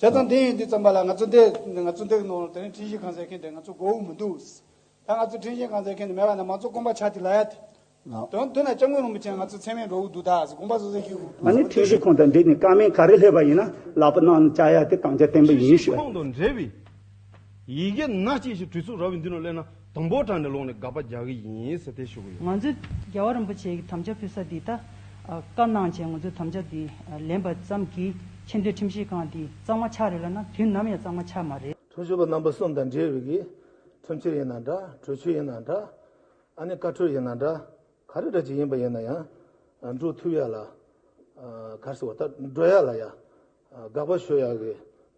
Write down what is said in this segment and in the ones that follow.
བྱས་ཙང་དེ་ཡིན་དུས་བརྩམས་པ་ལ་ང་ཚོ་འདི་ང་ཚོ་འདི་ནོར་དེ་རིང་འཕྲིན་བཞེས་གང་ཟེར་མཁན་དེ་ང་ཚོ་མགོ་དབུགས་མི་འདུག། ད་ང་ཚོ་འཕྲིན་བཞེས་གང་ཟེར་མཁན་དེ་མེད་པ་ན་མང་གཙོ་དཀོན་པ་ཆགས་དེ་ལ་ཡ་དེ། དོན་དུ་ན་སྐྱབས་མགོན་རིན་པོ་ཆེ་ང་ཚོ་ཚད་མེད་འགྲོ་འུ་འདུག་ད་གཟིགས་དགོངས་པ་བཟོ་ས་ཞིག་འུ་འདུག་ང་ནི་འཕྲིན་བཞེས་ཁང་དང་འབྲེལ་ནས་ཀ་མེད་ག་རེ་སླེབས་པ་ཡིན་ན་ལག་པ་གནང་ནས་བཅར་ཡ་དེ་གང་ཆ་བརྟན་པོ་ཡིན་ཞུ་བ་ཡིན། ཡི་གེ་སྣ་གཅིག་ཞིག་བྲིས་ཚུགས་ར་བའི་མདུན་ལ་སླེབས་ན་དང་པོར་དྲངས་ནས་ལོག་ནས་དགག་པ་རྒྱག་གི་ཡིན་ཟེར་ཏེ་ཞུ་གི་ཡོད། ང་ཚོས་རྒྱལ་བ་རིན་པོ་ཆེའི་དམ་བཅའ་ཕུལ་ས་འདི་ད་བཀའ་གནང་བྱས་ང་ཚོས་དམ་བཅའ་འདི་ལེན་པ་ཙམ་གྱིས་ཆེ་འདོད་ཁྲིམས་ཞིབ་ཁང་འདི་གཙང་མ་ཆགས་རེད་ལབ་ན་དུས་ནམ་ཡང་གཙང་མ་ཆགས་མ་རེད། ཁྲིམས་ཞིབ་པ་རྣམ་པ་གསུམ་དང་འབྲེལ་ཡོད་ཀྱི་ཁྲིམས་ཆེར་ཡིན་ན་འདྲ་གྲོས་ཆོད་ཡིན་ན་འདྲ་ཨ་ནི་བཀའ་འཁྲོལ་ཡིན་ན་འདྲ་ག་རེ་འདྲ་ཅིག་ཡིན་པ་ཡིན་ན་ཡང་འགྲོ་ཐུབ་ཡག་ལ་གར་སོང་བ་ལྟར་འགྲོ་ཡག་ལ་ཡག། དགག་པ་ཞུ་ཡག་གི་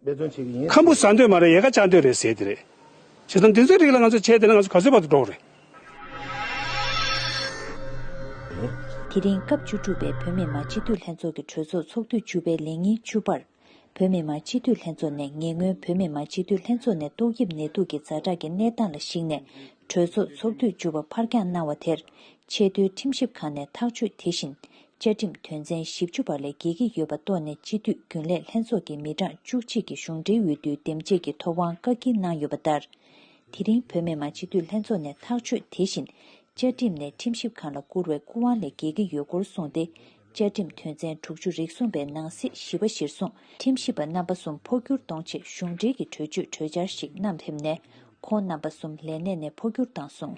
འབད་བརྩོན་བྱེད་ཀྱི་ཡིན། ཁམ་བུ་ཟ་འདོད་མ་རེད་ཡལ་ག་བཅག་འདོད་རེད་ཟེར་དེ་རེད། བྱས་ཙང་འདི་ཚོའི་རིགས་ལ་ང་ཚོས་བྱས་དེ་ན་ང་ཚོ་ག་ཚོད་བར་དུ་འགྲོ་རེད། དེ་རིང་སྐབས་བཅུ་དྲུག་པའི་བོད་མི་མང་སྤྱི་འཐུས་ལྷན་ཚོགས་ཀྱི་གྲོས་ཚོགས་ཚོགས་དུས་བཅུ་པའི་ལས་ཉིན་བཅུ་པར། བོད་མི་མང་སྤྱི་འཐུས་ལྷན་ཚོགས་ནས་ཉེ་སྔོན་བོད་མི་མང་སྤྱི་འཐུས་ལྷན་ཚོགས་ནས་ཏོག་དབྱིབས་ནད་དུག་གི་རྫ་དྲག་གི་གནས་སྟངས་ལ་གཞིགས་ནས་གྲོས་ཚོགས་ཚོགས་དུས་བཅུ་པ་ཕར་འགྱངས་གནང་བ་དེར་ཆེས་མཐོའི་ཁྲིམས་ཞིབ་ཁང་ནས་ཐག་གཅོད་དེ་བཞིན་བཅའ་ཁྲིམས་དོན་ཚན་བཞི་བཅུ་པར་ལས་འགལ་གྱི་ཡོད་པ་རྟོགས་ནས་སྤྱི་འཐུས་རྒྱུན་ལས་ལྷན་ཚོགས་ཀྱི་མི་གྲངས་བཅུ་གཅིག་གིས་གཞུང་འབྲེལ་འོས་བསྡུའི་འདེམས་བྱེད་ཀྱི་ཐོབ་དབང་བཀག་སྐྱིལ་གནང་ཡོད་པ་ལྟར། དེ་རིང་བོད་མི་མང་སྤྱི་འཐུས་ལྷན་ཚོགས་ནས་ཐག་གཅོད་དེ་བཞིན་བཅའ་ཁྲིམས་ནས་ཁྲིམས་ཞིབ་ཁང་ལ་བསྐུར་བའི་སྐུ་དབང་ལས་འགལ་གྱི་ཡོད་སྐོར་གསུངས་ཏེ་བཅའ་ཁྲིམས་དོན་ཚན་དྲུག་ཅུ་རིགས་གསུམ་པའི་ནང་གསེས་བཞི་པ་གཞིར་བཟུང་ཁྲིམས་ཞིབ་པ་རྣམ་པ་གསུམ་འཕོ་འགྱུར་གཏོང་ཆེད་གཞུང་འབྲེལ་གྱི་གྲོས་ཆོད་གྲོས་འཆར་ཞིག་བསྣམས་ཕེབས་ནས་ཁོང་རྣམ་པ་གསུམ་ལས་གནས་ནས་འཕོ་འགྱུར་བཏང་སོང།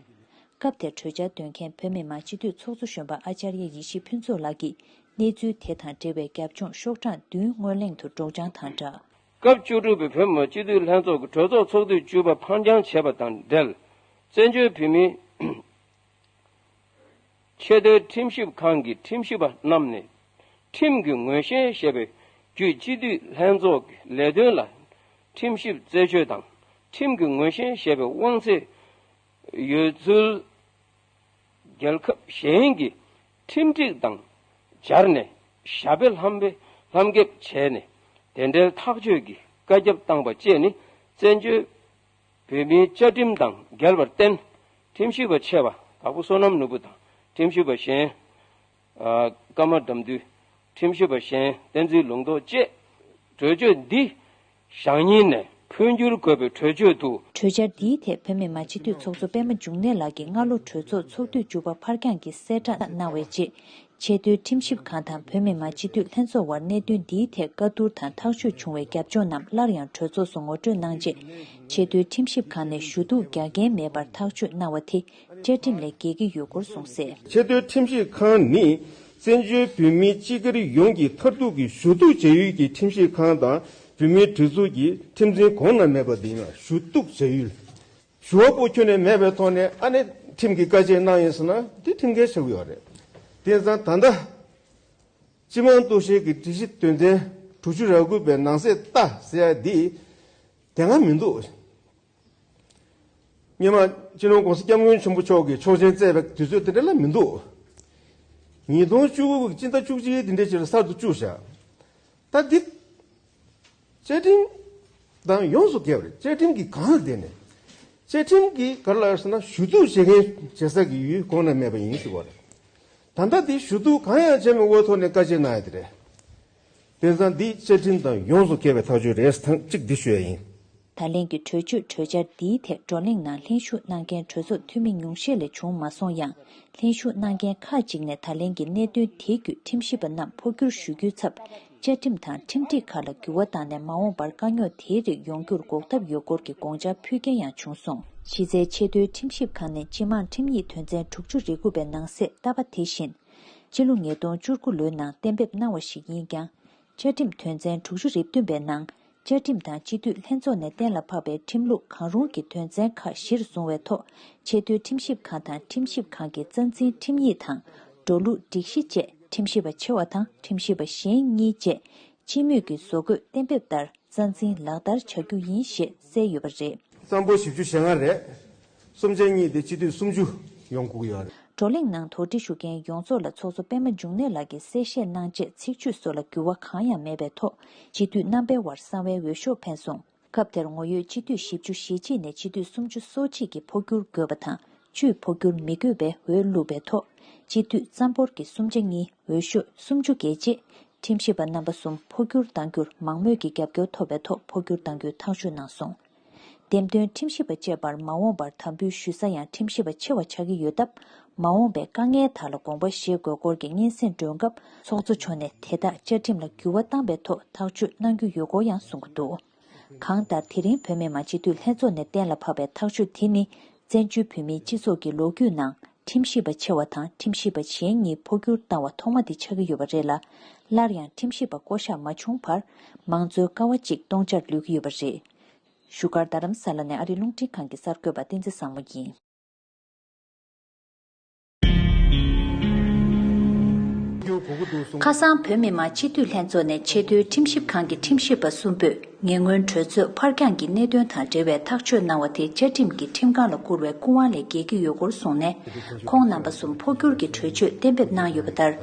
སྐབས་དེར་གྲོས་འཆར་འདོན་མཁན་བོད་མི་མང་སྤྱི་འཐུས་ཚོགས་གཙོ་གཞོན་པ་ཨཅཱརྱ་ཡེ་ཤེས་ཕུན་ཚོགས་ལགས་ཀྱིས་གནས་ཚུལ་དེ་དང་འབྲེལ་བའི་རྒྱབ་ལྗོངས་ཤོག་གྲངས་བདུན་སྔོན་གླེང་དུ་སྒྲོག་སྦྱང་དང་སྦྲགས། སྐབས་བཅུ་དྲུག་པའི་བོད་མི་མང་སྤྱི་འཐུས་ལྷན་ཚོགས་ཀྱི་གྲོས་ཚོགས་ཚོགས་དུས་བཅུ་པ་འཕར་འགྱངས་བྱས་པ་དང་འབྲེལ་བཙན་བྱོལ་བོད་མིའི་ཆེས་མཐོའི་ཁྲིམས་ཞིབ་ཁང་གི་ཁྲིམས་ཞིབ་པ་རྣམས་ནས་ཁྲིམས་ཀྱི་ངོས་ཞེན་ཞེས་པའི་བརྒྱུད་སྤྱི་འཐུས་ལྷན་ཚོགས་ཀྱི་ལས་དོན་ལ་ཁྲིམས་ཞིབ་རྩད་ཆོད་དང་ཁྲིམས་ཀྱི་ངོས་ཞེན་ཞེས་པའི་དབང་ཚད་ཡོད་ཚུལ། རྒྱལ་ཁབ་གཞན་གྱི་ཁྲིམས་སྒྲིག་དང་སྦྱར་ནས་ཞྭ་དཔེ་ལྷམ་དཔེ་ལྷམ་འགེབས་བྱས་ནས་དེ་འབྲེལ་ཐག་གཅོད་ཀྱི་བཀའ་ཁྱབ་བཏང་པ་བཅས་ནི་བཙན་བྱོལ་བོད་མིའི་བཅའ་ཁྲིམས་དང་འགལ་བར་བརྟེན་ཁྲིམས་ཞིབ་པ་ཆེ་བ་དྭགས་པོ་བསོད་ནམས་ནོར་བུ་དང་ཁྲིམས་ཞིབ་པ་གཞན་བཀའ་མ་བསྒྲམས་དུས་ཁྲིམས་ཞིབ་པ་གཞན་བསྟན་འཛིན་ལུང་རྟོགས་བཅས་གྲོས་ཆོད་འདི་ཞག་གཉིས་ནས་འཕོ་འགྱུར་དགོས་པའི་གྲོས་ཆོད་དུ། གྲོས་འཆར་འདིའི་ཐད་བོད་མི་མང་སྤྱི་འཐུས་ཚོགས་གཙོ་པད་མ་འབྱུང་གནས་ལགས་ཀྱིས་སྔ་ལོ་གྲོས་ཚོགས་ཚོགས་དུས་བཅུ་པ་འཕར་འགྱངས་ཀྱིས་གསལ་བསྒྲགས་གནང་བའི་རྗེས། ཆེས་མཐོའི་ཁྲིམས་ཞིབ་ཁང་དང་བོད་མི་མང་སྤྱི་འཐུས་ལྷན་ཚོགས་དབར་གནད་དོན་འདིའི་ཐད་བཀའ་བསྡུར་དང་ཐག་གཅོད་བྱུང་བའི་རྒྱབ་ལྗོངས་རྣམས་སླར་ཡང་གྲོས་ཚོགས་སུ་ངོ་སྤྲོད་གནང་རྗེས། ཆེས་མཐོའི་ཁྲིམས་ཞིབ་ཁང་ནས་ཞུ་གཏུག་རྒྱག་འགན་མེད་པར་ཐག་གཅོད་གནང་བ་དེ་བཅའ་ཁྲིམས་ལས་འགལ་གྱི་ཡོད་སྐོར་གསུངས་སྲིད། ཆེས་མཐོའི་ཁྲིམས་ཞིབ་ཁང་ནི་བཙན་བྱོལ་བོད་མིའི་སྤྱི་སྒེར་ཡོངས་ཀྱི་མཐར་ཐུག་གི་ཞུ་གཏུག་བྱ་ཡུལ་གྱི་ཁྲིམས་ཞིབ་ཁང་དང་བོད་མིའི་གྲོས་ཚོགས་ཀྱི་ཁྲིམས་འཛིན་གོང་ན་མེད་པ་དེ་ཡིན་ལ་ཞུ་གཏུག་བྱ་ཡུལ། ཞུ་བ་པོ་ཁྱོན་ནས་མེད་པའི་ཐོག་ནས་ཨ་ནེ་ཁྲིམས་ཀྱི་བཀའ་ཆད་གནང་ཡོད་ཟེར་ན་དེ་ཁྲིམས་འགལ་ཆགས་ཡོད་པ་རེད། དེ་བཟང་ད་ལྟ། སྤྱི་དམངས་གཏུག་བཤེར་གྱི་སྒྲིག་གཞི་དོན་ཚན་དྲུག་ཅུ་ར་དགུ་པའི་ནང་གསལ་བཏགས་ཟེར་ཡ་དེ་དེ་སྔ་མི་འདུག། སྙེ་མ། སྤྱི་ནོར་ཀུང་སི་སྐྱབས་མགོན་ཆེན་པོ་མཆོག་གིས་ཆོག་མཆན་བསྩལ་བའི་དུས་ཚོད་དེ་འདྲ་ལ་མི་འདུག། ཉིས་སྟོང་བཅུ་དགུ་གི་སྤྱི་ཟླ་བཅུ་གཅིག་འདི་འདྲའི་ཆེད་དུ་གསར་དུ་བཅུག་བཞག་ད་འདི། བཅའ་ཁྲིམས་དང་ཡོངས་སུ་འགལ་བ་རེད་བཅའ་ཁྲིམས་ཀྱི་གང་ལ་བདེན་ནས། བཅའ་ཁྲིམས་ཀྱི་ག་རེ་ལ་ཟེར་ན་ཞུ་གཏུག་བྱེད་མཁན་བྱེད་ས་ཀྱི་ཡུལ་གོང་ན་མེད་པ་ཡིན་ཞུ་བ་རེད། ད་ལྟ་འདི་ཞུ་གཏུག་གང་ཡང་བྱས་མེད་འོས་ཐོག་ནས་བཀའ་ཆད་གནང་ཡོད་དེ་རེད། དཔེ་བཟང་འདི་བཅའ་ཁྲིམས་དང་ཡོངས་སུ་འགལ་བའི་ཐག་གཅོད་རེད་ཐང་གཅིག་འདི་ཞུ་ཡ་ཡིན། ད་ལན་གྱི་གྲོས་ཆོད་གྲོས་འཆར་འདིའི་ཐད་བགྲོ་གླེང་ནང་ལྷན་ཞུགས་གནང་མཁན་གྲོས་ཚོགས་འཐུས་མི་ཉུང་ཤས་ལས་བྱུང་མ་སོང་ཡང་ལྷན་ཞུགས་གནང་མཁན་ཁག་ཅིག་ནས་ད་ལན་གྱི་གནད་དོན་དེ་བརྒྱུད་ཁྲིམས་ཞིབ་པ་རྣམས་འཕོ་འགྱུར་ཞུ་རྒྱུའི་ཚབ་བཅའ་ཁྲིམས་དང་ཁྲིམས་སྒྲིག་ཁག་ལ་འགྱུར་བ་བཏང་ནས་མ་འོངས་པར་དཀའ་རྙོག་དེའི་རིགས་ཡོང་རྒྱུར་འགོག་ཐབས་ཡོད་སྐོར་གྱི་དགོངས་འཆར་ཕུལ་མཁན་ཡང་བྱུང་སོང། ཕྱི་ཚེས་ཆེས་མཐོའི་ཁྲིམས་ཞིབ་ཁང་ནས་སྤྱི་དམངས་ཁྲིམས་ཡིག་དོན་ཚན་དྲུག་ཅུ་རེ་དགུ་པའི་ནང་གསེས་བཏབ་པ་དེ་བཞིན་སྤྱི་ལོ་ཉིས་སྟོང་བཅུ་དགུ་ལོའི་ནང་གཏན་འབེབས་གནང་བ་ཞིག་ཡིན་ཀྱང། བཅའ་ཁྲིམས་དོན་ཚན་དྲུག་ཅུ་རེ་བདུན་པའི་ནང་བཅའ་ཁྲིམས་དང་སྤྱི་འཐུས་ལྷན་ཚོགས་ནས་གཏན་ལ་ཕབ་པའི་ཁྲིམས་ལུགས་གང་རུང་གི་དོན་ཚན་ཁག་གཞིར་བཟུང་བའི་ཐོག་ཆེས་མཐོའི་ཁྲིམས་ཞིབ་ཁང་དང་ཁྲིམས་ཞིབ་ཁང་གི་རྩ་འཛིན་ཁྲིམས་ཡིག་དང་འགྲོ་ལུགས་སྒྲིག་གཞི་བཅས་ཁྲིམས་ཞིབ་པ་ཆེ་བ་དང་ཁྲིམས་ཞིབ་པ་གཞན་གཉིས་བཅས་སྤྱི་མོས་ཀྱི་བཟོ་འགོད་གཏན་འབེབས་ལྟར་རྩ་འཛིན་ལག་བསྟར་བྱ་རྒྱུ་ཡིན་ཞེས་གསལ་ཡོད་པ་རེད། གཙང་པོ་བཞི་བཅུ་ཞེ་ལྔ་རེད། གསུམ་ཆ་གཉིས་ཏེ་སྤྱི་འཐུས་སུམ་ཅུ་ཡོང་སྒུག་ཡོད་རེད། བགྲོ་གླེང་ནང་དོགས་འདྲི་ཞུ་མཁན་ཡོངས་རྫོགས་ལ་ཚོགས་གཙོ་པད་མ་འབྱུང་གནས་ལགས་ཀྱིས་གསལ་བཤད་གནང་རྗེས་ཚིག་བརྗོད་སོགས་ལ་འགྱུར་བ་གང་ཡང་མེད་པའི་ཐོག་སྤྱི་འཐུས་རྣམ་པའི་དབར་གསང་བའི་འོས་ཤོག་འཕེན་སོང། སྐབས་དེར་ངོ་ཡོད་སྤྱི་འཐུས་བཞི་བཅུ་ཞེ་གཅིག་ནས་སྤྱི་འཐུས་སུམ་ཅུ་སོ་གཅིག་གིས་འཕོ་འགྱུར་དགོས་པ་དང་བཅུས་འཕོ་འགྱུར་མི་དགོས་པའི་འོས་བླུགས་པའི་ཐོག་སྤྱི་འཐུས་རྩ་འབོར་གྱི་གསུམ་ཆ་གཉིས་འོས་ཤོས་སུམ་ཅུ་བརྒལ་རྗེས། ཁྲིམས་ཞིབ་པ་རྣམ་པ་གསུམ་འཕོ་འགྱུར་གཏང་རྒྱུར་མང་མོས་ཀྱི་རྒྱབ་སྐྱོར་ཐོབ་པའི་ཐོག་འཕོ་འགྱུར་གཏང་རྒྱུའི་ཐག་གཅོད་གནང་སོང། འདེམས་ཐོན་ཁྲིམས་ཞིབ་པ་བཅས་པར་མ་འོངས་པར་དམ་འབུལ་ཞུ་ས་ཡང་ཁྲིམས་ཞིབ་པ་ཆེ་བ་ཆགས་ཀྱི་ཡོད་སྟབས་མ་འོངས་པའི་དཀའ་ངལ་དག་ལ་དགོངས་པ་བཞེས་དགོས་སྐོར་གྱི་སྙན་སེང་སྒྲོན་སྐབས། ཚོགས་གཙོ་མཆོག་ནས་དེ་དག་བཅའ་ཁྲིམས་ལ་འགྱུར་བ་བཏང་པའི་ཐོག་ཐག་གཅོད་གནང་རྒྱུ་ཡོད་སྐོར་ཡང་གསུངས་ཀྱི་འདུག་གང་ལྟར་དེ་རིང་བོད་མི་མང་སྤྱི་འཐུས་ལྷན་ཚོགས་ནས་གཏན་ལ་ཕབ་པའི་ཐག་གཅོད་དེ་ནི་བཙན་བྱོལ་བོད་མིའི་སྤྱི་ཚོགས་ཀྱི་ལོ་རྒྱུས་ནང་ཁྲིམས་ཞིབ་པ་ཆེ་བ་དང་ཁྲིམས་ཞིབ་པ་གཞན་གཉིས་འཕོ་འགྱུར་བཏང་བ་ཐོག་མ་དེ་ཆགས་ཀྱི་ཡོད་པ་རེད་ལ། སླར་ཡང་ཁྲིམས་ཞིབ་པ་བསྐོ་གཞག་མ་བྱུང་བར་མང་གཙོའི་ཀ་བ་གཅིག་སྟོང་ཆར་ལུས་ཀྱི་ཡོད་པ་རེད། བཞུགས་སྒར་རྡ་རམ་ས་ལ་ནས་ཨ་རིའི་རླུང་འཕྲིན་ཁང་གི་གསར་འགོད་པ་བསྟན་འཛིན་བཟང་མོ་ཡིན། ཁ་སང་བོད་མི་མང་སྤྱི་འཐུས་ལྷན་ཚོགས་ནས་ཆེས་མཐོའི་ཁྲིམས་ཞིབ་ཁང་གི་ཁྲིམས་ཞིབ་པ་གསུམ་པོས་ཉེ་སྔོན་གྲོས་ཚོགས་ཕར་འགྱངས་ཀྱི་གནད་དོན་དང་འབྲེལ་བའི་ཐག་གཅོད་གནང་བ་དེ་བཅའ་ཁྲིམས་ཀྱིས་ཁྲིམས་ཁང་ལ་བསྐུར་བའི་སྐུ་དབང་ལས་འགལ་གྱི་ཡོད་སྐོར་གསུངས་ནས་ཁོང་རྣམ་པ་གསུམ་འཕོ་འགྱུར་གྱི་གྲོས་ཆོད་གཏན་འབེབས་གནང་ཡོད་པ་ལྟར།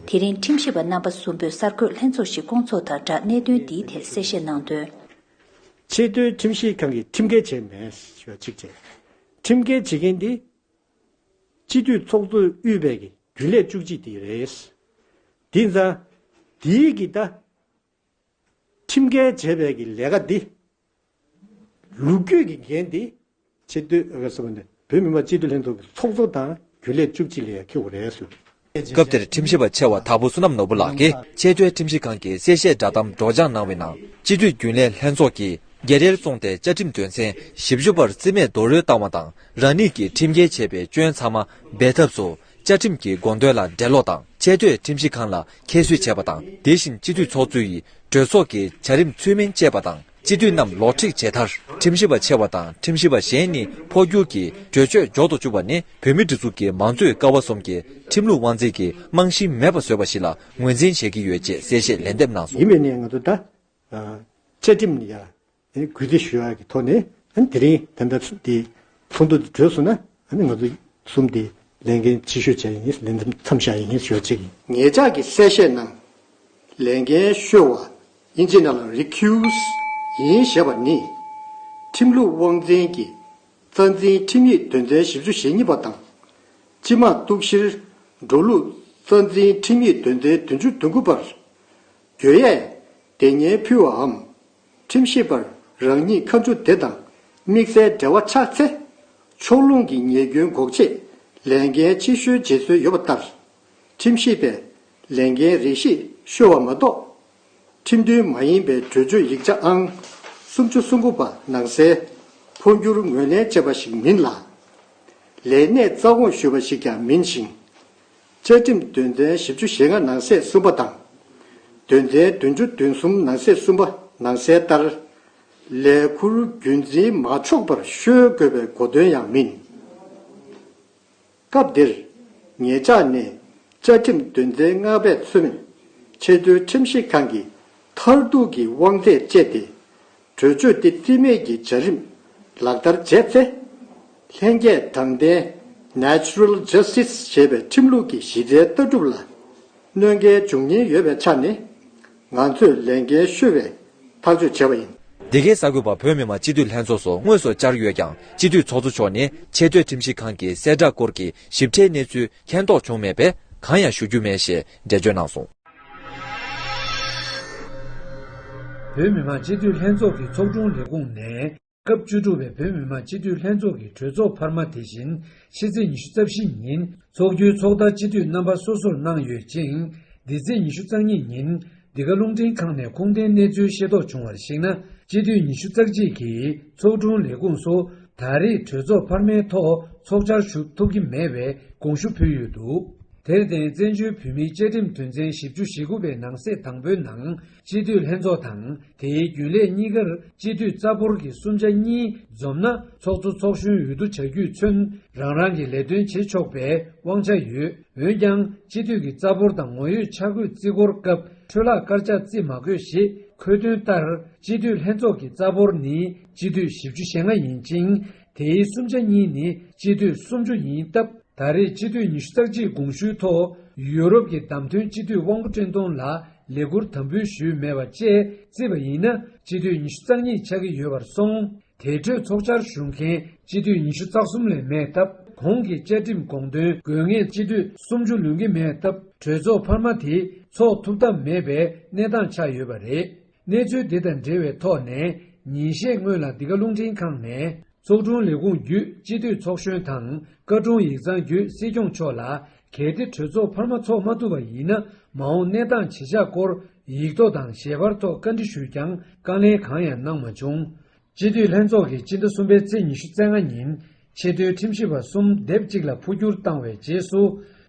དེ་རིང་ཁྲིམས་ཞིབ་པ་རྣམ་པ་གསུམ་པོས་གསར་འགོད་ལྷན་ཚོགས་ཤིག་བསྐོང་ཚོགས་དང་སྦྲགས་གནད་དོན་འདིའི་ཐད་གསལ་བཤད་གནང་དོན། ཆེས་མཐོའི་ཁྲིམས་ཞིབ་ཁང་གིས་ཁྲིམས་འགལ་བྱས་མེད་ཞེས་པ་གཅིག་བཅས། ཁྲིམས་འགལ་བྱེད་མཁན་དེ། སྤྱི་འཐུས་ཚོགས་གཙོ་དབུས་པའི་གི་རྒྱུན་ལས་བཅུ་གཅིག་དེ་རེད། དེ་མཚན། དེའི་གི་ད། ཁྲིམས་འགལ་བྱས་པའི་གི་ལས་ཀ་འདི། ལུགས་རྒྱུས་གི་འགན་འདི། སྤྱི་འཐུས། བོད་མི་མང་སྤྱི་འཐུས་ལྷན་ཚོགས་གི་ཚོགས་གཙོ་དང་རྒྱུན་ལས་བཅུ་གཅིག་ལས་ཡ་ཁེ་བོ་རེད། སྐབས་དེར་ཁྲིམས་ཞིབ་པ་ཆེ་བ་དྭགས་པོ་བསོད་ནམས་ནོར་བུ་ལགས་ཀྱིས་ཆེས་མཐོའི་ཁྲིམས་ཞིབ་ཁང་གི་གསལ་བཤད་བསྒྲགས་གཏམ་སྒྲོག་སྦྱངས་གནང་བའི་ནང་སྤྱི་འཐུས་རྒྱུན་ལས་ལྷན་ཚོགས་ཀྱིས་རྒྱལ་རལ་བཙོང་སྟེ་བཅའ་ཁྲིམས་དོན་ཚན་བཞི་བཅུ་པར་བརྩི་མེད་རྡོལ་རོལ་བཏང་བ་དང་རང་ཉིད་ཀྱིས་ཁྲིམས་འགལ་བྱས་པའི་སྐྱོན་ཚང་མ་སྦས་ཐབས་སུ་བཅའ་ཁྲིམས་ཀྱི་དགོངས་དོན་ལ་འགྲེལ་ལོག་དང་ཆེས་མཐོའི་ཁྲིམས་ཞིབ་ཁང་ལ་ཁྱད་གསོད་བྱས་པ་དང་དེ་བཞིན་སྤྱི་འཐུས་ཚོགས་གཙོའི་གྲོས་ཚོགས་ཀྱི་བྱ་རིམ་ཚུལ་མིན་སྤྱད་པ་དང། སྤྱི་འཐུས་རྣམས་ལོག་འཁྲིད་བྱས་མཐར་ཁྲིམས་ཞིབ་པ་ཆེ་བ་དང་ཁྲིམས་ཞིབ་པ་གཞན་གཉིས་འཕོ་འགྱུར་གྱིས་གྲོས་ཆོད་འཇོག་ཏུ་བཅུག་པ་ནི་བོད་མི་འབྲི་ཚུགས་ཀྱི་མང་གཙོའི་ཀ་བ་གསུམ་གྱི་ཁྲིམས་ལུགས་དབང་འཛིན་གྱི་རྨང་གཞི་མེད་པ་བཟོས་པ་ཞིག་ལ་ངོས་འཛིན་བྱེད་ཀྱི་ཡོད་ཅེས་གསལ་བཤད་ལན་འདེབས་གནང་ཡིན་སོང། པའི་གནས་ང་ཚོ་ད་བཅའ་ཁྲིམས་ནི་ཡང་གུས་བརྩི་ཞུ་ཡག་གི་ཐོག་ནས་དེ་རིང་དེ་འདྲ་དེ་ཚོགས་འདུ་འདི་གྲོལ་སོང་ན་ང་ཚོ་གསུམ་དེ་ལས་འགན་ཆེ་ཤོས་བྱ་ཡི་ངེས་ལས་འདེམས་མཚམས་བཞག་ཡི་ངེས་ཞོར་གཅིག་ཡིན། ངེད་ཅག་གི་གསལ་བཤད་ནང་ལས་འགན་ཤོས་བ་ཨིན་ཇི་ནཱ་ལ Recuse ཡིན་ཞེས་པ་ནི། ཁྲིམས་ལུགས་དབང་འཛིན་གྱི་རྩ་འཛིན་ཁྲིམས་ཡིག་དོན་ཚན་བཞི་བཅུ་ཞེ་གཉིས་པ་དང། སྤྱི་དམངས་གཏུག་བཤེར་འགྲོ་ལུགས་རྩ་འཛིན་ཁྲིམས་ཡིག་དོན་ཚན་བདུན་ཅུ་དོན་དགུ་པར། གྱོད་ཡས་དེ་སྙན་ཕུལ་བའམ་ཁྲིམས་ཞིབ་པར་རང་ཉིད་ཁ་མཆུ་དེ་དང་དམིགས་བསལ་འབྲེལ་བ་ཆགས་ཚེ། ཕྱོགས་ལྷུང་གི་ཉེས་སྐྱོན་འགོག་ཆེད་ལས་འགན་ཆེ་ཤོས་བརྗེ་སྲོལ་ཡོད་པ་ལྟར། ཁྲིམས་ཞིབ་པས་ལས་འགན་རེ་ཞིག་བཤོལ་བ་མ་གཏོགས། ཁྲིམས་མཐུན་མ་ཡིན་པའི་གྲོས་ཆོད་ཡིག་ཆ་ཨང་སུམ་ཅུ་སོ་དགུ་པ་ནང་གསལ། འཕོ་འགྱུར་ངོས་ལེན་བྱས་པ་ཞིག་མིན་ལ། ལས་གནས་རྩ་དགོངས་ཞུས་པ་ཞིག་ཀྱང་མིན་ཞིང། བཅའ་ཁྲིམས་དོན་ཚན་བཞི་བཅུ་ཞེ་ལྔ་ནང་གསེས་གསུམ་པ་དང། དོན་ཚན་བདུན་བཅུ་བདུན་གསུམ་ནང་གསེས་གསུམ་པ་ནང་གསལ་ལྟར། ལས་འཁུར་རྒྱུན་འཛིན་མ་ཆོག་པར་ཤོལ་དགོས་པའི་གོ་དོན་ཡང་མིན། སྐབས་འདིར་ངེད་ཅག་ནི་བཅའ་ཁྲིམས་དོན་ཚན་ལྔ་པས་མཚོན། ཆེས་མཐོའི་ཁྲིམས་ཞིབ་ཁང་གིས་མཐར་གཏུག་གི་དབང་ཚད་སྤྱད་དེ། གྲོས་ཆོད་དེ་རྩིས་མེད་ཀྱི་བྱ་རིམ་ལག་བསྟར་བྱས་ཚེ། ལྷན་སྐྱེས་དྲང་བདེན། Natural Justice། ཞེས་པའི་ཁྲིམས་ལུགས་ཀྱི་གཞི་རྩའི་ལྟ་གྲུབ་ལ་གནོད་འགལ་འབྱུང་ཉེན་ཡོད་པའི་ཆ་ནས། ང་ཚོས་ལས་འགན་ཤོད་པའི་ཐག་གཅོད་བྱས་པ་ཡིན། འདི་གའི་གསར་འགོད་པ་བོད་མི་མང་སྤྱི་འཐུས་ལྷན་ཚོགས་སུ་དངོས་སུ་བཅར་ཡོད་ཀྱང་སྤྱི་འཐུས་ཚོགས་གཙོ་མཆོག་ནས་ཆེས་མཐོའི་ཁྲིམས་ཞིབ་ཁང་གི་གསལ་བསྒྲགས་སྐོར་གྱི་ཞིབ་ཕྲའི་གནས་ཚུལ་མཁྱེན་རྟོགས་བྱུང་མེད་པས་གང་ཡང་ཞུ་རྒྱུ་མེད་ཞེས་འགྲེལ་བརྗོད་གནང་སོང། བོད་མི་མང་སྤྱི་འཐུས་ལྷན་ཚོགས་ཀྱི་ཚོགས་དྲུང་ལས་ཁུངས་ནས་སྐབས་བཅུ་དྲུག་པའི་བོད་མི་མང་སྤྱི་འཐུས་ལྷན་ཚོགས་ཀྱི་གྲོས་ཚོགས་འཕར་མ་དེ་བཞིན་ཕྱི་ཚེས་ཉི་ཤུ་རྩ་བཞི་ཉིན་འཚོགས་རྒྱུའི་ཚོགས་བརྡ་སྤྱི་འཐུས་རྣམ་པ་སོ་སོར་གནང་ཡོད་ཅིང། འདི་ཚེས་ཉི་ཤུ་རྩ་གཉིས་ཉིན་འདི་ག་རླུང་འཕྲིན་ཁང་ནས་ཁུངས་ལྡན་གནས་ཚུལ་ཤེས་རྟོགས་བྱུང་བར་གཞིགས་ན་སྤྱི་འཐུས་ཉི་ཤུ་རྩ་གཅིག་གིས་ཚོགས་དྲུང་ལས་ཁུངས་སུ་ད་རེས་གྲོས་ཚོགས་འཕར་མའི་ཐོག་ཚོགས་བཅར་ཞུགས་ཐུབ་ཀྱི་མེད་པའི་དགོངས་ཞུ་ཕུལ་ཡོད་འདུག་དེར་བརྟེན་བཙན་བྱོལ་བོད་མིའི་བཅའ་ཁྲིམས་དོན་ཚན་བཞི་བཅུ་ཞེ་དགུ་པའི་ནང་གསེས་དང་པོའི་ནང་སྤྱི་འཐུས་ལྷན་ཚོགས་དང་དེའི་རྒྱུན་ལས་གཉིས་ཀར་སྤྱི་འཐུས་རྩ་འབོར་གྱི་གསུམ་ཆ་གཉིས་འཛོམས་ན་ཚོགས་གཙོ་ཚོགས་གཞོན་འོས་བསྡུ་བྱ་རྒྱུས་མཚོན་རང་རང་གི་ལས་དོན་བྱེད་ཆོག་པའི་དབང་ཆ་ཡོད། འོན་ཀྱང་སྤྱི་འཐུས་ཀྱི་རྩ་འབོར་དང་ངོ་ཡོད་ཆ་བགོས་རྩིས་འཁོར་སྐབས་འཕྲོས་ལག་བཀར་ཆ་རྩིས་མ་དགོས་ཞེས་འཁོད་དོན་ལྟར་སྤྱི་འཐུས་ལྷན་ཚོགས་ཀྱི་རྩ་འབོར་ནི་སྤྱི་འཐུས་བཞི་བཅུ་ཞེ་ལྔ་ཡིན་ཅིང་དེའི་སུམ་ཆ་གཉིས་ནི་སྤྱི་འཐུས་སུམ་ཅུ་ཡིན་སྟབས། ད་རེས་སྤྱི་འཐུས་ཉི་ཤུ་རྩ་གཅིག་དགོངས་ཞུའི་ཐོག་ཡུ་རོབ་ཀྱི་བདམས་ཐོན་སྤྱི་འཐུས་དབང་པོ་བཀྲས་མཐོང་ལ་ལས་འཁུར་དམ་འབུལ་ཞུས་མེད་པ་བཅས་རྩིས་པ་ཡིན་ན་སྤྱི་འཐུས་ཉི་ཤུ་རྩ་གཉིས་ཆགས་ཀྱི་ཡོད་པར་སོང། དེ་གྲོས་ཚོགས་བཅར་ཞུ་མཁན་སྤྱི་འཐུས་ཉི་ཤུ་རྩ་གསུམ་ལས་མེད་སྟབས་གོང་གི་བཅའ་ཁྲིམས་དགོངས་དོན་དགོས་ངེས་སྤྱི་འཐུས་སུམ་ཅུ་ལོན་གྱི་མེད་སྟབས་གྲོས་ཚོགས་འཕར་མ་དེ་ཚོགས་ཐུབ་ཐབས་མེད་པའི་གནས་སྟངས་ཆགས་ཡོད་པ་རེད། གནས་ཚུལ་དེ་དང་འབྲེལ་བའི་ཐོག་ནས་ཉིན་ཤས་སྔོན་ལ་འདི་ག་རླུང་འཕྲིན་ཁང་ནས་ཚོགས་དྲུང་ལས་ཁུངས་བརྒྱུད་སྤྱི་འཐུས་ཚོགས་གཞོན་དང་བཀའ་དྲུང་ཡིག་ཚང་བརྒྱུད་སྲིད་སྐྱོང་མཆོག་ལ་གལ་ཏེ་གྲོས་ཚོགས་འཕར་མ་འཚོགས་མ་ཐུབ་པ་ཡིན་ན་མ་འོངས་གནས་སྟངས་ཇི་ཆགས་སྐོར་ཡིག་ཐོག་དང་ཞལ་པར་ཐོག་བཀའ་འདྲི་ཞུས་ཀྱང་བཀའ་ལན་གང་ཡང་གནང་མ་བྱུང། སྤྱི་འཐུས་ལྷན་ཚོགས་ཀྱིས་སྤྱི་ཟླ་གསུམ་པའི་ཚེས་ཉི་ཤུ་རྩེ་ལྔ་ཉིན་ཆེས་མཐོའི་ཁྲིམས་ཞིབ་པ་གསུམ་སྡེབ་གཅིག་ལ་འཕོ་འགྱུར་བཏང་བའི་རྗེས་སུ།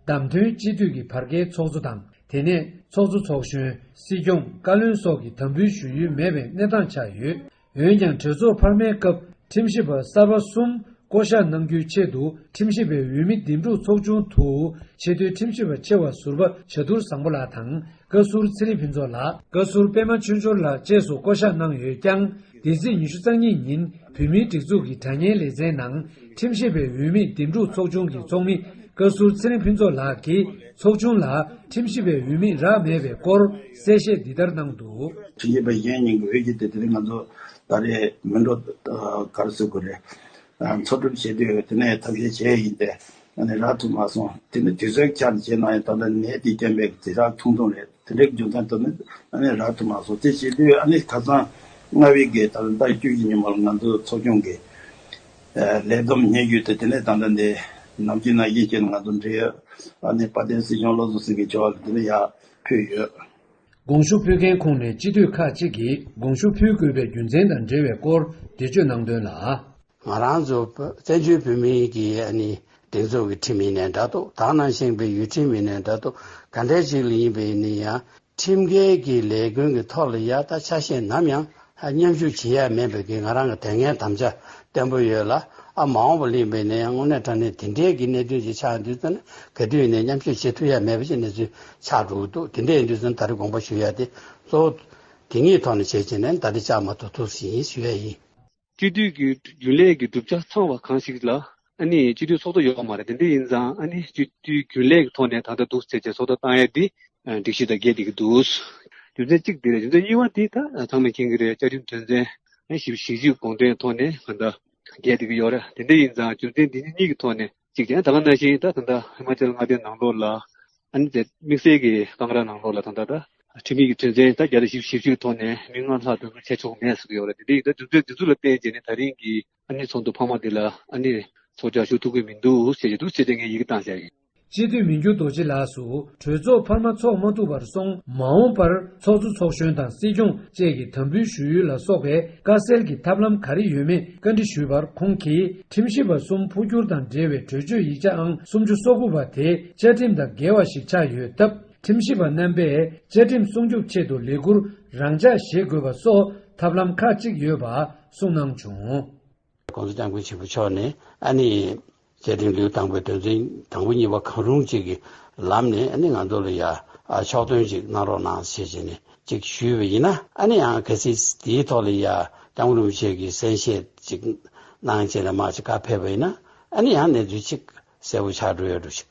བདམས་ཐོན་སྤྱི་འཐུས་ཀྱི་བར་བརྒལ་ཚོགས་གཙོ་དང་དེ་ནས་ཚོགས་གཙོ་ཚོགས་གཞོན་སྲིད་སྐྱོང་བཀའ་བློན་སོགས་ཀྱི་དམ་འབུལ་ཞུ་ཡུལ་མེད་པའི་གནས་སྟངས་ཆགས་ཡོད། འོན་ཀྱང་གྲོས་ཚོགས་འཕར་མའི་སྐབས་ཁྲིམས་ཞིབ་པ་གསར་པ་གསུམ་བསྐོ་གཞག་གནང་རྒྱུའི་ཆེད་དུ་ཁྲིམས་ཞིབ་པའི་འོས་མི་འདེམས་སྒྲུག་ཚོགས་ཆུང་དུ་ཆེས་མཐོའི་ཁྲིམས་ཞིབ་པ་ཆེ་བ་ཟུར་པ་བྱ་དུར་བཟང་པོ་ལགས་དང་བཀའ་ཟུར་ཚེ་རིང་ཕུན་ཚོགས་ལགས། བཀའ་ཟུར་པད་མ་ཆོས་འབྱོར་ལགས་བཅས་སུ་བསྐོ་གཞག་གནང་ཡོད་ཀྱང་འདས་ཚེས་ཉི་ཤུ་རྩ་གཉིས་ཉིན་བོད་མིའི་སྒྲིག་འཛུགས་ཀྱི་དྲ་བརྙན་ལེ་ཚན་ནང་ཁྲིམས་ཞིབ་པའི་འོས་མི་འདེམས་སྒྲུག་ཚོགས་ཆུང་གི་ཚོགས་མི་བཀའ་ཟུར་ཚེ་རིང་ཕུན་ཚོགས་ལགས་ཀྱིས་ཚོགས་ཆུང་ལ་ཁྲིམས་ཞིབ་པའི་འོས་མི་རག་མེད་པའི་སྐོར་གསལ་བཤད་འདི་ལྟར་གནང་འདུག། ཕྱི་ཉིན་པའི་གཞན་ཉིན་གྱི་འོས་གཞི་དེ་དེ་རིང་ང་ཚོ་ད་རེས་མི་འགྲོ་གར་བཟོས་དགོས་རེད། འཚོགས་སྒྲུབ་བྱེད་དུས་དེ་ནས་ཐབས་ཤེས་བྱས་ཡས་ཡིན་ཏེ་ང་ནི་རག་ཐུབ་མ་སོང། དེ་ནི་དུས་ཚོད་འཁྱར་བྱེད་གནང་ཡས་ད་ལྟ་ནད་དེས་རྐྱེན་པས་ཚེ་རག་ཐུང་ཐུང་རེད་དེ་འདྲའི་རྒྱུ་མཚན་ཐོག་ནས་རག་ཐུབ་མ་སོང་དེ་བྱེད་དུས་ཨ་ནི་ཁ་སང་ལྔ་བའི་གི་ད་ལྟ་བཅུ་བཞི་ཉིན་མོར་ང་ཚོ་ཚོགས་ཆུང་གི་ལས་བསྡོམས་གཉེར་རྒྱུ་དེ་དེ་ནས་ད་ལྟ་འདི་ནམ་གྱི་ནང་ཤེས་བྱས་ནས་ང་ཚོ་འབྲེལ་ཡོད་ཨ་ནི་དཔའ་ལྡན་སྲིད་སྐྱོང་བློ་བཟང་སེང་གེ་མཆོག་ལ་དེ་ནས་ཡག་ཕུལ་ཡོད། དགོངས་ཞུ་ཕུལ་མཁན་ཁོངས་ནས་སྤྱི་འཐུས་ཁག་ཅིག་གིས་དགོངས་ཞུ་ཕུལ་དགོས་པའི་རྒྱུ་མཚན་དང་འབྲེལ་བའི་སྐོར་འགྲེལ་བརྗོད་གནང་དོན་ལ། ང་རང་ཚོ་བཙན་བྱོལ་བོད་མིའི་གི་སྒྲིག་འཛུགས་ཀྱི་ཁྲིམས་ཡིན་ནས་འདྲ་ཏོ་དག་ནང་བཞེངས་པའི་ཡུལ་ཁྲིམས་ཡིན་ནས་འདྲ་ཏོ་ག་འདྲ་ཞིག་ལ་ཡིན་པའི་ནི་ཡང་ཁྲིམས་འགལ་གྱི་ལས་ཀུན་གྱི་ཐོག་ལ་ཡ་ད་ཆ་ཤས་ནམ་ཡང་མཉམ་ཞུགས་བྱེད་ཡ་མེད་པའི་ང་རང་གི་དེ་སྔའི་དམ་བཅའ་བརྟན་པོ་ཡོད་ལ། ཨ་མ་འོངས་པ་གླེང་པའི་ནས་ཡང་དངོས་གནས་དྲ་གནས་དེ་འདྲའི་གི་གནད་དོན་ཅིག་ཆགས་འདུག་ཚ་ན་གལ་ཏེ་ཡིན་ནས་མཉམ་ཞུགས་བྱེད་ཐུབ་ཡ་མེད་པ་ཞིག་གནས་ཚུལ་ཆགས་འགྲོ་གི་འདུག་དེ་འདྲ་ཡིན་དུས་ཚ་ན་ད་རེ་དགོངས་པ་ཞུ་ཡ་དེ་གཙོ་བོ། དེ་གཉིས་ཐོག་ནས་བྱས་བྱས་ནས་ད་རེ་ཅག་མ་ཐུག་ཐུག་ཟིན་ཞུ་ཡ་ཡིན། སྤྱི་འཐུས་ཀྱི་རྒྱུན་ལས་ཀྱི་གྲུབ་ཆ་ཚང་བ་གང་ཞིག་ལ་ཨ་ནི་སྤྱི་འཐུས་ཚོགས་གཙོ་ཡོད་མ་རེད་དེ་འདི་ཡིན་ཙང་ཨ་ནི་སྤྱི་འཐུས་རྒྱུན་ལས་ཀྱི་ཐོག་ནས་ད་ལྟ་འདུག་ཟེར་བྱས་ཚོགས་གཙོ་བཏང་ཡས་འདི། སྒྲིག་གཞི་དང་འགལ་འདི་གི་འདུག། རྒྱུ་མཚན་གཅིག་འདི་རེད་རྒྱུ་མཚན་གཉིས་བ་འདི་ད་ཚང་མས་མཁྱེན་གི་རེད་བཅའ་ཁྲིམས་དོན་ཚན། ཞིབ་བཞི་གཞིགས་དགོངས་དོན་ཐོག་ནས་ད་ལྟ་འགལ་འདི་གི་ཡོད་རེད་དེ་འདི་ཡིན་ཙང་རྒྱུ་མཚན་འདི་གཉིས་གཉིས་གི་ཐོག་ནས་གཅིག་ད་ལ་ན་བཞིན་ད་ད་ལྟ་ཧི་མ་ཅལ་མངའ་སྡེའི་ནང་ལོགས་ལ། ཨ་ནི་དེ་དམིགས་བསལ་གི་སྐང་ར་ནང་ལོགས་ལ་ད་ད་ད། ཁྲིམས་ཡིག་གི་དོན་ཚན་ད་བརྒྱ་དང་བཞི་བཞི་བཅུ་གི་ཐོག་ནས་མི་ལྔ་ལྷག་འདུ་འཛོམས་བྱས་ཆོག་གི་མེད་ཟེར་གི་ཡོད་རེད་དེ་འདི་ཡིན་ད་རྒྱུ་མཚན་འདི་ཚུར་ལ་བརྟེན་བྱས་ནས་ད་རིང་གི་ཨ་ནེ་ཚོགས་འདུ་འཕར་མ་འདི་ལ་ཨ་ནེ། ཚོགས་བཅར་ཞུགས་ཐུབ་ཀི་མི་འདུག་ཞེས་བཤད་ཀྱི་འདུག་ཅེས་དེ་སྔའི་ཡི་གེ་བཏང་བྱས། སྤྱི་འཐུས་མི་འགྱུར་རྡོ་རྗེ་ལགས་སུ་གྲོས་ཚོགས་འཕར་མ་འཚོགས་མ་ཐུབ་པར་སོང། མ་འོངས་པར་ཚོགས་གཙོ་ཚོགས་གཞོན་དང་སྲིད་སྐྱོང་བཅས་ཀྱི་དམ་འབུལ་ཞུ་ཡུལ་ལ་སོགས་པའི་བཀའ་སེལ་གྱི་ཐབས་ལམ་ག་རེ་ཡོད་མེད་བཀའ་འདྲི་ཞུས་པར་ཁོང་གིས་ཁྲིམས་ཞིབ་པ་གསུམ་འཕོ་འགྱུར་དང་འབྲེལ་བའི་གྲོས་ཆོད་ཡིག་ཆ་ཨང་སུམ་ཅུ་སོ་དགུ་པ་དེ་བཅའ་ཁྲིམས་དང་འགལ་བ་ཞིག་ཆགས་ཡོད་སྟབས་ཁྲིམས་ཞིབ་པ་རྣམ་པས་བཅའ་ཁྲིམས་སྲུང་སྐྱོབ་ཆེད་དུ་ལས་ཁུར་རང་འཇགས་བཞེས་དགོས་པ་སོགས་ཐབས་ལམ་ཁག་གཅིག་ཡོད་པ། གསུངས་གནང་བྱུང། ྋགོང་ས ྋསྐྱབས་མགོན་ཆེན་པོ་མཆོག་ནས་ཨ་ནི་བཅས་དྲན་གླུའི་དང་པོའི་དོན་ཚན་དང་པོ་གཉིས་པ་གང་རུང་གཅིག་གི་ལམ་ནས་ཨ་ནི་ང་ཚོ་ལ་ཡ་ཕྱོགས་སྟོན་ཅིག་གནང་རོགས་གནང་ཞེས་བྱས་ནས་ཅིག་ཞུས་པ་ཡིན་ན་ཨ་ནི་ཡང་གལ་སྲིད་དེའི་ཐོག་ལ་ཡ ྋསྐྱབས་མགོན་རིན་པོ་ཆེ་གི་གསན་བཞེས་ཅིག་གནང་ཅེས་ལ་མ་ཅིག་བཀའ་ཕེབས་པ་ཡིན་ན་ཨ་ནི་ཡང་གནས་ཚུལ་ཅིག་གསལ་བོ་ཆགས་འགྲོ་ཡོད་འགྲོ་ཞིག།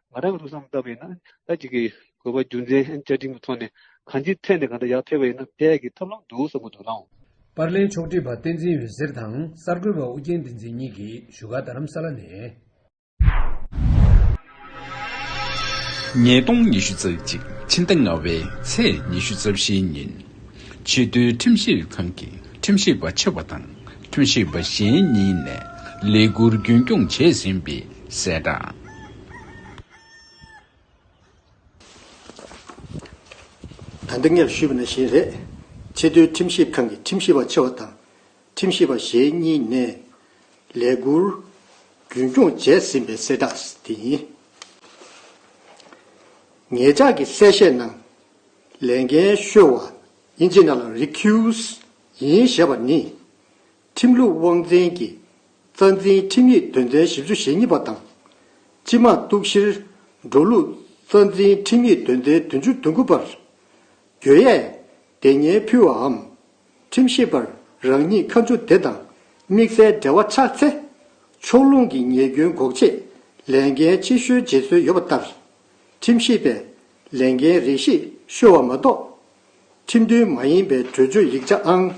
ང་རང་ལུགས་བསམ་ལྟ་བུ་ཡིན་ན་ད་ཅིག་གིས་དགོས་པ་རྒྱུ་མཚན་བཅའ་ཁྲིམས་ཀྱི་ཐོག་ནས་གང་ཅིའི་ཐད་ནས་གང་འདྲ་ཡག་འཕེར་བ་ཡིན་ན་དེ་ཡག་གི་ཐབས་ལམ་འདུག་བསམ་གྱི་འདུག་ནའང། པར་ལེན་ཕྱོགས་བསྒྲིགས་པ་བསྟན་འཛིན་འོད་ཟེར་དང་གསར་འགོད་པ་ཨུ་རྒྱན་བསྟན་འཛིན་གཉིས་ཀྱིས་བཞུགས་སྒར་རྡ་རམ་ས་ལ་ནས། ཉིས་སྟོང་ཉི་ཤུ་རྩ་གཅིག་ཕྱི་ཟླ་ལྔ་བའི་ཚེས་ཉི་ཤུ་རྩ་བཞི་ཉིན། ཆེས་མཐོའི་ཁྲིམས་ཞིབ་ཁང་གི་ཁྲིམས་ཞིབ་པ་ཆེ་བ་དང་ཁྲིམས་ཞིབ་པ་གཞན་གཉིས་ནས་ལས་ཁུར་རྒྱུན་སྐྱོང་བྱས་ཟིན་པའི་གསལ་བསྒྲགས། ད་འདི་ངས་ཞུས་པ་ནི་གཞན་རེད། ཆེས་མཐོའི་ཁྲིམས་ཞིབ་ཁང་གི་ཁྲིམས་ཞིབ་པ་ཆེ་བ་དང་ཁྲིམས་ཞིབ་པ་ཞེ་གཉིས་ནས་ལས་འཁུར་རྒྱུན་སྐྱོང་བྱས་ཟིན་པའི་གསལ་བསྒྲགས་དེ་ཡིན། ངེད་ཅག་གི་གསལ་བཤད་ནང་ལས་འགན་ཤོར་བ་ཨིན་ཇི་ནཱ་ལ་རི་ཁིའུ་སི་ཡིན་ཞེས་པ་ནི། ཁྲིམས་ལུགས་དབང་འཛིན་གྱི་རྩ་འཛིན་ཁྲིམས་ཡིག་དོན་ཚན་བཞི་བཅུ་ཞེ་གཉིས་པ་དང། སྤྱི་དམངས་གཏུག་བཤེར་འགྲོ་ལུགས་རྩ་འཛིན་ཁྲིམས་ཡིག་དོན་ཚན་དོན་བཅུ་བདུན་དགུ་པར། གྱོད་ཡས་དེ་ཉེས་ཕུལ་བའམ་ཁྲིམས་ཞིབ་པར་རང་ཉིད་ཁ་མཆུ་དེ་དང་དམིགས་བསལ་འབྲེལ་བ་ཆགས་ཚེ། ཕྱོགས་ལྷུང་གི་ཉེས་སྐྱོན་འགོག་ཆེད་ལས་འགན་ཕྱི་བཤོལ་བྱེད་སྲོལ་ཡོད་པ་ལྟར། ཁྲིམས་ཞིབ་པས་ལས་འགན་རིགས་ཤིག་བཤོལ་བ་མ་གཏོགས། ཁྲིམས་མཐུན་མ་ཡིན་པའི་གྲོས་ཆོད་ཡིག་ཆ་ཨང།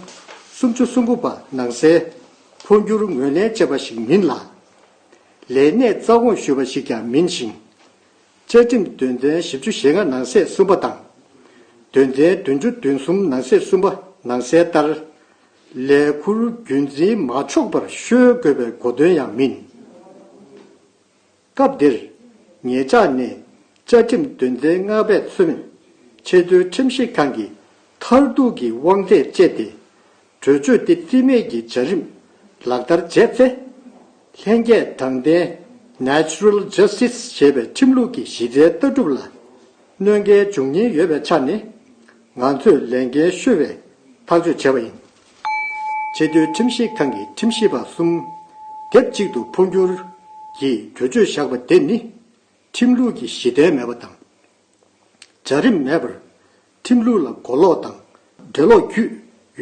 སུམ་ཅུ་སུམ་དགུ་པ་ནང་གསལ། འཕོ་འགྱུར་ངོས་ལེན་བྱས་པ་ཞིག་མིན་ལ། ལས་གནས་རྩ་དགོངས་ཞུས་པ་ཞིག་ཀྱང་མིན་ཞིང། བཅའ་ཁྲིམས་དོན་ཚན་བཞི་བཅུ་ཞེ་ལྔ་ནང་གསེས་གསུམ་པ་དང། དོན་ཚན་བདུན་ཅུ་བདུན་གསུམ་ནང་གསེས་གསུམ་པ་ནང་གསལ་ལྟར། ལས་འཁུར་རྒྱུན་འཛིན་མ་ཆོག་པར་གཤོལ་དགོས་པའི་གོ་དོན་ཡང་མིན། སྐབས་འདིར། ངེད་ཅག་ནི་བཅའ་ཁྲིམས་དོན་ཚན་ལྔ་པས་མཚོན། ཆེས་མཐོའི་ཁྲིམས་ཞིབ་ཁང་གི་མཐར་ཐུག་གི་དབང་ཚད་སྤྱད་དེ། གྲོས་ཆོད་འདི་རྩིས་མེད་ཀྱི་བྱ་རིམ་ལག་བསྟར་བྱས་ཚེ། ལྷན་སྐྱེས་དྲང་བདེན། Natural Justice། ཞེས་པའི་ཁྲིམས་ལུགས་ཀྱི་གཞི་རྩའི་ལྟ་གྲུབ་ལ་གནོད་འགལ་འབྱུང་ཉེན་ཡོད་པའི་ཆ་ནས། ང་ཚོས་ལས་འགན་ཤོར་བའི་ཐག་གཅོད་བྱས་པ་ཡིན། ཆེས་མཐོའི་ཁྲིམས་ཞིབ་ཁང་གི་ཁྲིམས་ཞིབ་པ་གསུམ་སྡེབ་གཅིག་ཏུ་འཕོ་འགྱུར་གྱིས་གྲོས་ཆོད་བཞག་པ་དེ་ནི། ཁྲིམས་ལུགས་ཀྱི་གཞི་རྟེན་མེད་པ་དང། བྱ་རིམ་མེད་པར། ཁྲིམས་ལུགས་ལ་མགོ་ལོག་དང་འགྲེལ་ལོག་བརྒྱུད་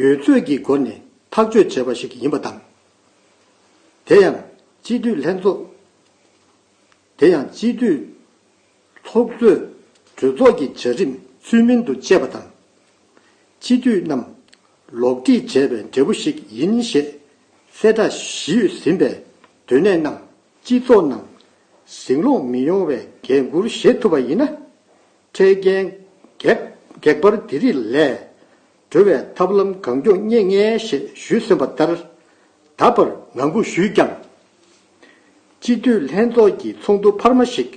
ཡོད་ཚོད་ཀྱི་སྒོ་ནས་ཐག་གཅོད་བྱས་པ་ཞིག་ཡིན་པ་དང། དེ་ཡང་སྤྱི་འཐུས་ལྷན་ཚོགས། དེ་ཡང་སྤྱི་འཐུས་ཚོགས་གཙོས་གྲོས་ཚོགས་ཀྱི་བྱ་རིམ་ཚུལ་མིན་དུ་སྤྱད་པ་དང། སྤྱི་འཐུས་རྣམས་ལོག་འཁྲིད་བྱས་པའི་འབྲས་བུ་ཞིག་ཡིན་ཞེས་གསལ་བསྒྲགས་ཞུས་ཟིན་པས་དོན་གནད་རྣམས་སྤྱི་ཚོགས་ནང་ཟིང་ལོག་མི་ཡོང་བའི་འགན་འཁུར་བཞེས་ཐུབ་པ་ཡིན་ན། འཕྲལ་རྐྱེན་གེགས་བར་དེ་རིགས་ལས་སྒྲོལ་བའི་ཐབས་ལམ་གང་མགྱོགས་རྙེད་ངེས་ཞེས་ཞུས་ཟིན་པ་ལྟར་ད་བར་ངང་སྒུག་ཞུས་ཀྱང། སྤྱི་འཐུས་ལྷན་ཚོགས་ཀྱི་ཚོགས་འདུ་འཕར་མ་ཞིག་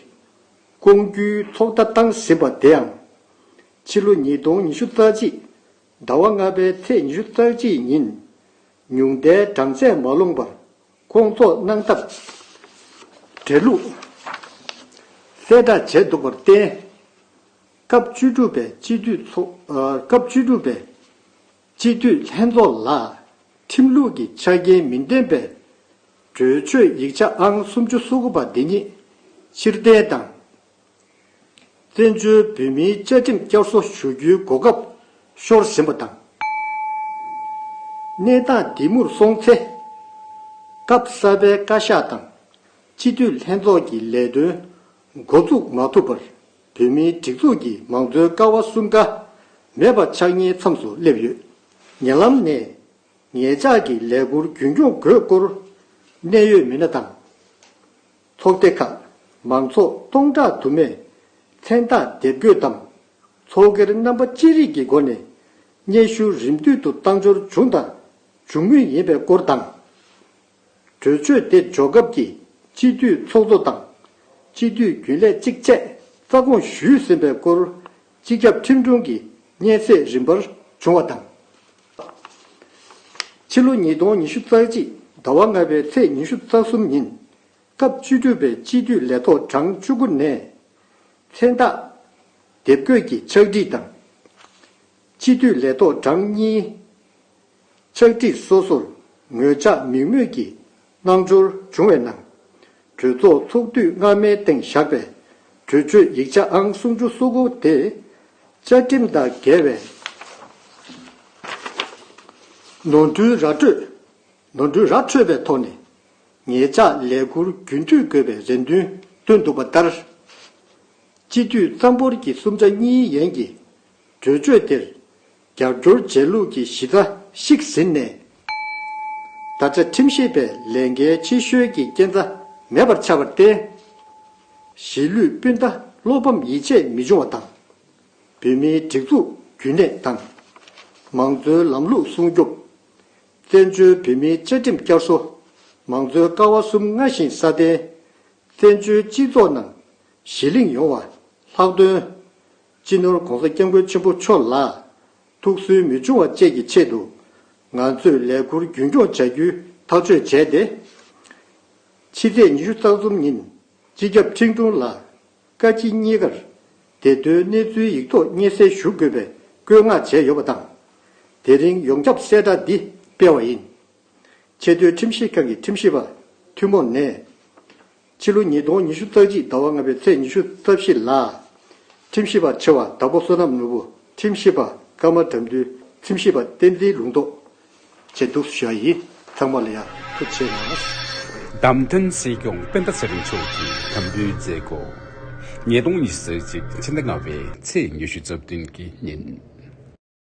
བསྐོང་རྒྱུའི་ཚོགས་བརྡ་བཏང་ཟིན་པ་དེའང། ཕྱི་ལོ་ཉིས་སྟོང་ཉི་ཤུ་རྩ་གཅིག་ཟླ་བ་ལྔ་པའི་ཚེས་ཉི་ཤུ་རྩ་གཅིག་ཉིན་ཉུང་མཐའི་གྲངས་ཚད་མ་ལོངས་པར་བསྐོང་ཚོགས་གནང་སྟབས། འབྲེལ་ལུགས་གསལ་བསྒྲགས་བྱས་འདུག་པར་བརྟེན། སྐབས་བཅུ་དྲུག་པའི་སྤྱི་འཐུས་ཚོགས་སྐབས་བཅུ་དྲུག་པའི། སྤྱི་འཐུས་ལྷན་ཚོགས་ལ་ཁྲིམས་ལུགས་ཀྱི་ཆ་རྐྱེན་མི་ལྡན་པའི་གྲོས་ཆོད་ཡིག་ཆ་ཨང་སུམ་ཅུ་སོ་དགུ་པ་འདི་ཉིད་ཕྱིར་འཐེན་དང། བཙན་བྱོལ་བོད་མིའི་བཅའ་ཁྲིམས་བསྐྱར་གསོ་ཞུ་རྒྱུའི་གོ་སྐབས་ཤོར་ཟིན་པ་དང། གནས་སྟངས་འདི་མུར་སོང་ཚེ། སྐབས་གསར་པའི་བཀའ་ཤག་དང་སྤྱི་འཐུས་ལྷན་ཚོགས་ཀྱི་ལས་དོན་འགོ་འཛུགས་མ་ཐུབ་པར་བོད་མིའི་སྒྲིག་འཛུགས་ཀྱི་མང་གཙོའི་ཀ་བ་གསུམ་ཀ་མེད་པ་ཆགས་ཉེའི་མཚམས་སུ་སླེབས་ཡོད། ཉེ་ལམ་ནས། ངེད་ཅག་གི་ལས་འཁུར་རྒྱུན་སྐྱོང་དགོས་སྐོར། གནད་ཡོད་མི་སྣ་དང། ཚོགས་སྡེ་ཁག་མང་ཚོགས་སྟོང་ཕྲག་དུ་མས་མཚན་རྟགས་འདེབས་འགོད་དམ། ཚོགས་སྒེར་རྣམ་པ་ཅི་རིགས་ཀྱི་སྒོ་ནས་སྙན་ཞུ་རིམ་བསྟུད་དུ་བཏང་འབྱོར་བྱུང་དང་འབྱུང་མུས་ཡིན་པའི་སྐོར་དང། གྲོས་ཆོད་དེ་འཇོག་སྐབས་ཀྱི་སྤྱི་འཐུས་ཚོགས་གཙོ་དང། སྤྱི་འཐུས་རྒྱུན་ལས་གཅིག་བཅས་རྩ་དགོངས་ཞུས་ཟིན་པའི་སྐོར་སྤྱི་ཁྱབ་ཁྲིམས་དྲུང་གི་སྙན་གསེས་རིམ་པར་བྱུང་བ་དང། ཕྱི་ལོ་ཉིས་སྟོང་ཉི་ཤུ་རྩ་གཅིག་ཟླ་བ་ལྔ་པའི་ཚེས་ཉི་ཤུ་རྩ་གསུམ་ཉིན། སྐབས་བཅུ་དྲུག་པའི་སྤྱི་འཐུས་ལས་ཐོག་གྲངས་བཅུ་དགུ་ནས། མཚན་རྟགས། དེབ་འགོད་ཀྱི་ཕྱག་བྲིས་དང། སྤྱི་འཐུས་ལས་ཐོག་གྲངས་གཉིས། ཕྱག་བྲིས་སོ་སོར་ངོས་ཆ་མིག་སྨོས་ཀྱི་སྣང་འགྱུར་བྱུང་བའི་ནང། གྲོས་ཚོགས་ཚོགས་དུས་སྔ་མའི་སྟེང་བཞག་པའི་གྲོས་ཆོད་ཡིག་ཆ་ཨང་སུམ་ཅུ་སོ་དགུ་དེ། བཅའ་ཁྲིམས་དང་འགལ་བའི་ནོར་འཁྲུལ་ར་འཕྲོད་ནོར་འཁྲུལ་ར་འཕྲོད་པའི་ཐོག་ནས་ངེད་ཅག་ལས་འཁུར་རྒྱུན་མཐུད་དགོས་པའི་རེ་འདུན་བཏོན་འདུག་པ་ལྟར། སྤྱི་འཐུས་རྩ་འབོར་གྱི་གསུམ་ཆ་གཉིས་ཡན་གྱིས་གྲོས་ཆོད་དེར་རྒྱབ་སྐྱོར་རྗེས་ལུས་ཀྱི་གཞི་རྩ་བཤིག་ཟིན་ནས། ད་ཆ་ཁྲིམས་ཤེས་པའི་ལས་འགན་ཆེ་ཤོས་ཀྱི་རྐྱེན་རྩ་མེད་པར་ཆགས་པར་བརྟེན། གཞིས་ལུས་སྤུན་ཟླ་བློ་ཕམ་ཡིད་ཆད་མི་འབྱུང་བ་དང། བོད་མིའི་སྒྲིག་འཛུགས་རྒྱུན་གནས་དང། མང་གཙོའི་ལམ་ལུགས་སྲུང་སྐྱོབ། བཙན་བྱོལ་བོད་མིའི་བཅའ་ཁྲིམས་བསྐྱར་གསོ། མང་གཙོའི་ཀ་བ་གསུམ་སྔར་བཞིན་སྲ་བརྟན། བཙན་བྱོལ་སྤྱི་ཚོགས་ནང་གཞི་གླེང་ཡོང་བ་ལྷག་དོན། སྤྱི་ནོར ྋགོང་ས ྋསྐྱབས་མགོན་ཆེན་པོ་མཆོག་ལ་ཐུགས་སུན་མི་ཕྱུང་བ་བཅས་ཀྱི་ཆེད་དུ། ང་ཚོས་ལས་འཁུར་རྒྱུན་སྐྱོང་བྱ་རྒྱུའི་ཐག་གཅོད་བྱས་ཏེ། ཕྱི་ཚེས་ཉི་ཤུ་རྩ་གསུམ་ཉིན་སྤྱི་ཁྱབ་ཁྲེང་ཀྲུང་ལ་བཀའ་སྤྱི་གཉིས་ཀར་བདེ་དོན་གནས་ཚུལ་ཡིག་ཐོག་སྙན་གསན་ཞུ་དགོས་པའི་བཀོད་མངགས་བྱས་ཡོད་པ་དང། དེ་རིང་ཡོངས་ཁྱབ་གསལ་བསྒྲགས་འདི་སྤེལ་བ་ཡིན། ཆེས་མཐོའི་ཁྲིམས་ཞིབ་ཁང་གི་ཁྲིམས་ཞིབ་པ་ཐུན་མོང་ནས། ཕྱི་ལོ་ཉིས་སྟོང་ཉི་ཤུ་རྩ་གཅིག་ཟླ་བ་ལྔ་པའི་ཚེས་ཉི་ཤུ་རྩ་བཞི་ལ། ཁྲིམས་ཞིབ་པ་ཆེ་བ་དྭགས་པོ་བསོད་ནམས་ནོར་བུ་ཁྲིམས་ཞིབ་པ་སྐར་མ་དགྲ་འདུལ་ཁྲིམས་ཞིབ་པ་བསྟན་འཛིན་ལུང་རྟོགས། བཅས་འདུག་སུ་ཞིག་ཡིན་ཚང་མ་ལ་ཡག་ཐུགས་ཆེ་ལགས། བདམས་ཐོན་སྲིད་སྐྱོང་སྤེན་པ་ཚེ་རིང་མཆོག་གིས་དམ་འབུལ་མཛད། སྒོ་ཉིས་སྟོང་ཉི་ཤུ་རྩ་གཅིག་ཕྱི་ཟླ་ལྔ་བའི་ཚེས་ཉི་ཤུ་རྩ་བདུན་གྱི་ཉིན།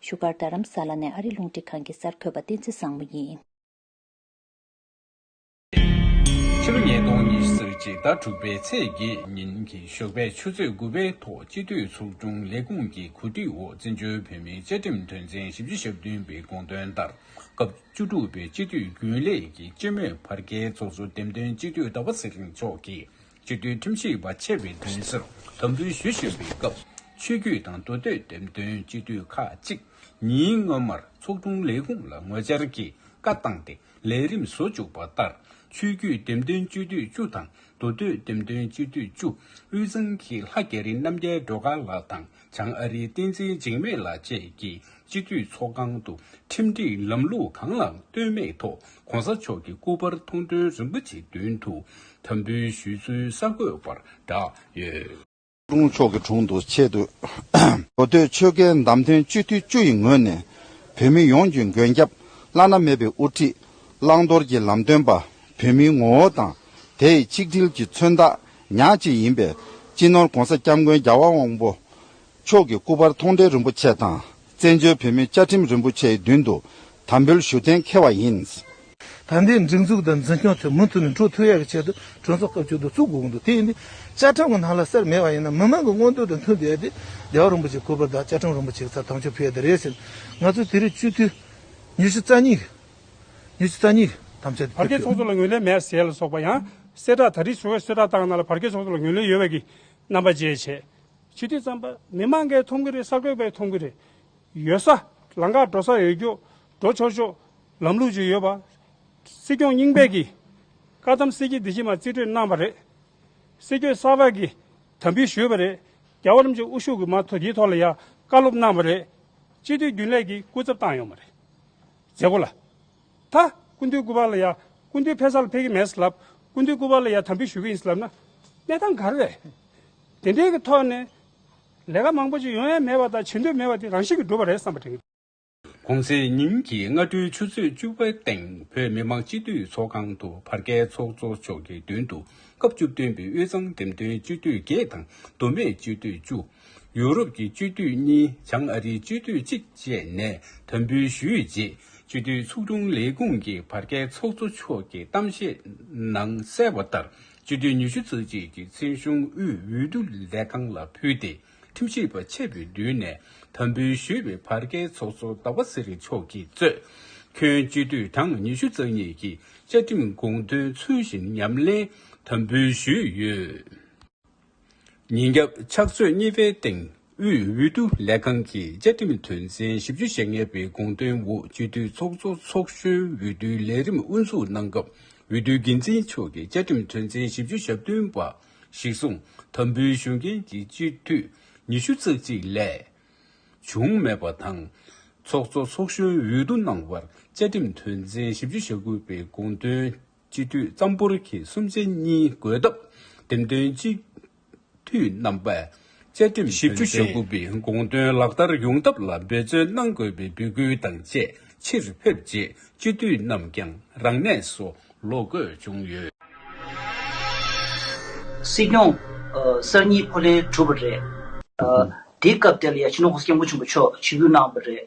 བཞུགས་སྒར་རྡ་རམ་ས་ལ་ནས་ཨ་རི་རླུང་འཕྲིན་ཁང་གི་གསར་འགོད་པ་བསྟན་འཛིན་བཟང་མོ་ཡིན། ཕྱི་ལོ་ཉིས་སྟོང་ཉི་ཤུ་གཅིག་ཟླ་དྲུག་པའི་ཚེས་བརྒྱད་ཉིན་གྱི་ཞོགས་པའི་ཆུ་ཚོད་དགུ་པའི་ཐོག་སྤྱི་འཐུས་ཚོགས་ཆུང་ལས་ཁུངས་ཀྱི་གོ་སྒྲིག་འོག་བཙན་བྱོལ་བོད་མིའི་བཅའ་ཁྲིམས་དོན་ཚན་བཞི་བཅུ་ཞབས་བདུན་པའི་དགོངས་དོན་ལྟར་སྐབས་བཅུ་དྲུག་པའི་སྤྱི་འཐུས་རྒྱུན་ལས་ཀྱི་སྤྱི་མོས་བར་བརྒལ་ཚོགས་གཙོ་འདེམས་ཐོན་སྤྱི་འཐུས་ཟླ་བ་ཚེ་རིང་མཆོག་གིས་སྤྱི་འཐུས་ཁྲིམས་ཞིབ་པ་ཆེ་བའི་གདན་སར་དམ་འབུལ་ཞུ་བཞིན་པའི་སྐབས། ཆོས་བརྒྱུད་དང་མདོ་སྟོད་འགྲེམས་སྟོན་སྤྱི་འཐུས་ཁག་ཅིག་ཉིན་སྔོན་མར་ཚོགས་དྲུང་ལས་ཁུངས་ལ་ངོ་བཅར་གྱིས་བཀའ་བཏང་སྟེ་ལས་རིམ་བཟོ་བཅུག་པ་ལྟར། ཆོས་བརྒྱུད་འགྲེམས་སྟོན་སྤྱི་འཐུས་བཅུ་དང་མདོ་སྟོད་འགྲེམས་སྟོན་སྤྱི་འཐུས་བཅུ་དབུས་གཙང་གི་ལྷ་རྒྱ་རི་རྣམ་རྒྱལ་སྒྲོལ་དཀར་ལགས་དང། བྱང་ཨ་རིའི་བསྟན་འཛིན་འཇིགས་མེད་ལགས་བཅས་ཀྱིས་སྤྱི་འཐུས་ཚོགས་ཁང་དུ་ཁྲིམས་སྒྲིག་ལམ་ལུགས་གང་ལའང་ལྟོས་མེད་ཐོག་གོང་ས་མཆོག་གི་སྐུ་པར་མཐོང་དོན་རིན་པོ་ཆེའི་མདུན་དུ་དམ་འབུལ་ཞུས་ཚུལ་གསར་འགོད་པར་བསྒྲགས་ཡོད། ཀྲུང་གོ་ཕྱོགས་ཀྱི་དྲུང་དུ་ཆེད་དུ་གོ་ཐོས་ཆོལ་ཁའི་བདམས་ཐོན་སྤྱི་འཐུས་བཅུ་ཡི་ངོས་ནས་བོད་མི་ཡོངས་ཀྱི་མགོན་སྐྱབས་བླ་ན་མེད་པའི་དབུ་ཁྲིད་བླང་དོར་གྱི་ལམ་སྟོན་པ་བོད་མིའི་ངོ་བོ་དང་དེ་ཡི་ཆིག་སྒྲིལ་གྱི་མཚོན་རྟགས་ཉག་ཅིག་ཡིན་པས་སྤྱི་ནོར ྋགོང་ས ྋསྐྱབས་མགོན་རྒྱལ་བ་དབང་པོ་མཆོག་གི་སྐུ་པར་མཐོང་འབྲེལ་རིན་པོ་ཆེ་དང་བཙན་བྱོལ་བོད་མིའི་བཅའ་ཁྲིམས་རིན་པོ་ཆེའི་མདུན་དུ་དམ་འབུལ་ཞུ་གཏན་འཁེལ་བ་ཡིན། ད་ལྟའི་སྒྲིག་འཛུགས་དང་འཛིན་སྐྱོང་ཚོས་མུ་མཐུད་ནས་འཕྲོ་འཐུ་ཡག་གི་ཆེད་དུ་གྲོས་ཚོགས་སྐབས་བཅུ་དུ་བཙུགས་དགོས་གི་འདུག་དེ་ཡིན་དུས་བཅའ་ཁྲིམས་ཀྱི་ནང་ལ་གསེར་མེད་པ་ཡིན་ན་མི་མང་གི་མངོན་འདོད་དང་མཐུན་བསྡད་དེ་རྒྱལ་བ་རིན་པོ་ཆེའི་སྐུ་པར་དང་བཅའ་ཁྲིམས་རིན་པོ་ཆེ་གི་ཚབ་དམ་ཆོས་ཕུལ་ཡ་དེ་རེད་ཟེར་ནས་ང་ཚོས་དེ་རིང་སྤྱི་འཐུས་ཉི་ཤུ་རྩ་གཉིས། ནི་ཚིག་རྩ་གཉིས་ཐམས་ཅད་དུ་བར་བརྒལ་ཚོགས་ཁྱབ། གཙོ་ལ་ངོས་ལེན་མེད་ཟས་ལ་སོགས་པ་ཡང། གསལ་བསྒྲགས་ད་རིས་བྱུང་བས་གསོལ་བསྒྲགས་བཏང་གནང་ལ་བར་བརྒལ་ཚོགས་གཙོ་ལ་ངོས་ལེན་ཡོད་བས་ཀྱི་རྣམ་པ་བཅས་བྱས། ཕྱི་དུས་རྩམ་པ་མི་མང་འགའི་འཐུང་གི་རེད་གསར་འགོད་པའི་འཐུང་གི་རེད། ཡོད་ས། ལང་ཀར་འགྲོ་ས་ཡོད་རྒྱུ། འགྲོ་ཆོག་ཆོག། ལམ་ལུགས་ཅིག་ཡོད་པ། སྲིད་སྐྱོང་རྙིང་པས་ཀྱི། བཀའ་གདམས་གསེར་གྱི་སྡེ་བཞི་མ་རྩིས་སྤྲོད་གནང་བ་རེད། སྲིད་སྐྱོད་གསར་པ་གྱི། དམ་འབུལ་ཞུས་པ་རེད། རྒྱ་བོད་རིམ་བྱོན་དབུ་བཞུགས་ཀྱི་མ་ཐོ་དེའི་ཐོག་ལ་ཡང་བཀའ་སློབ་གནང་བ་རེད། སྤྱི་འཐུས་རྒྱུན་ལས་ཀྱི་སྐུ་ཚབ་བཏང་ཡོང་བ་རེད། མཛད་སྒོ་ལ། ཐ། ཀུན་འདུས་སྐུ་པར་ལ་ཡང། ཀུན་འདུས་ཕེ་སར་ལ་ཕེབས་ཀྱི་མེད་སྲིད་ལབ། ཀུན་འདུས་སྐུ་པར་ལ་ཡང་དམ་འབུལ་ཞུ་གི་ཡིན་སྲིད་ལབ་ན། གནས་སྟངས་ག་རེ་རེད། དེ་འདྲའི་གི་ཐོག་ནས། ལས་ཀ་མང་པོ་ཅིག་ཡོང་ཡ་མེད་པ་དང་བྱེད་འདོད་མེད་པ་དེ་རང་བཞིན་གྱི་འགྲུབ་པ་རེད་བསམ་པ་དྲན། གོང་ཚེས་ཉིན་གྱི་སྔ་དྲོའི་ཆུ་ཚོད་བཅུ་པའི་སྟེང་བོད་མི་མང་སྤྱི་འཐུས་ཚོགས་ཁང་དུ་བར་བརྒལ་ཚོགས་གཙོ་མཆོག་གི་མདུན་དུ་སྐབས་བཅུ་བདུན་པའི་དབུས་གཙང་འདེམས་ཐོན་སྤྱི་འཐུས་བརྒྱད་དང་མདོ་སྨད་སྤྱི་འཐུས་བཅུ། ཡུ་རོབ་ཀྱི་སྤྱི་འཐུས་གཉིས་བྱང་ཨ་རིའི་སྤྱི་འཐུས་གཅིག་བཅས་ནས་དམ་འབུལ་ཞུས་རྗེས་སྤྱི་འཐུས་ཚོགས་དྲུང་ལས་ཁུངས་ཀྱི་བར་བརྒལ་ཚོགས་གཙོ་མཆོག་གིས་གཏམ་བཤད་ནང་གསལ་བ་ལྟར་སྤྱི་འཐུས་ཉི་ཤུ་རྩ་གཅིག་གི་ཚན་གཞུང་དབུས་འོས་བསྡུ་ལས་ཁང་ལ་ཕུལ་ཏེ་ཁྲིམས་ཞིབ་པ་ཆེད་དུ་བསྡུས་ནས་དམ་འབུལ་ཞུས་པའི་བར་བརྒལ་ཚོགས་གཙོ་ཟླ་བ་ཚེ་རིང་མཆོག་གིས་གཙོས། ཁྱོན་སྤྱི་འཐུས་གྲངས་ཉི་ཤུ་རྩ་གཉིས་ཀྱིས་བཅའ་ཁྲིམས་དགོངས་དོན་ཚུལ་བཞིན་ཉམས་ལེན་དམ་འབུལ་ཞུས་ཡོད། ཉིན་རྒྱབ་ཕྱག་ཚོད་གཉིས་པའི་སྟེང་དབུས་འོས་བསྡུ་ལས་ཁང་གི་བཅའ་ཁྲིམས་དོན་ཚན་བཞི་བཅུ་ཞེ་ལྔ་པའི་དགོངས་དོན་འོག་སྤྱི་འཐུས་ཚོགས་གཙོ་ཚོགས་གཞོན་འོས་བསྡུའི་ལས་རིམ་དབུ་འཛུགས་གནང་སྐབས་འོས་བསྡུའི་འགན་འཛིན་མཆོག་གིས་བཅའ་ཁྲིམས་དོན་ཚན་བཞི་བཅུ་ཞག་བདུན་པ་གཞིར་བཟུང་དམ་འབུལ་ཞུ་མཁན་གྱི་སྤྱི་འཐུས་ཉི་ཤུ་རྩ་གཅིག་ལས་བྱུང་མེད་པ་དང། ཚོགས་གཙོ་ཚོགས་གཞོན་འོས་བསྡུ་གནང་བར་བཅའ་ཁྲིམས་དོན་ཚན་བཞི་བཅུ་ཞག་དགུ་པའི་དགོངས་དོན་སྤྱི་འཐུས་རྩམ་ཕོར་གྱི་སུམ་རྩེ་གཉིས་བགོས་སྟབས་འདེམས་ཐོན་སྤྱི་འཐུས་རྣམ་པས་བཅའ་ཁྲིམས་བཞི་བཅུ་ཞེ་དགུ་པའི་དགོངས་དོན་ལག་བསྟར་ཡོང་ཐབས་ལ་འབད་བརྩོན་གནང་དགོས་པའི་འབོད་སྐུལ་དང་བཅས་ཕྱིར་ཕེབས་རྗེས་སྤྱི་འཐུས་རྣམས་ཀྱང་རང་གནས་སུ་ལོག་དགོས་བྱུང་ཡོད། སྲིད་སྐྱོང། གསར་གཉིས་ཕོ་ལྷན་གྲུབ་པ་རེད། དེའི་སྐབས་དེ་ལ་ཡ་ཆེ་ནོ་ཧོ་སྐྱབས་མགོན་ཆེན་པོ་མཆོག་ཇུས་འབུལ་གནང་བ་རེད།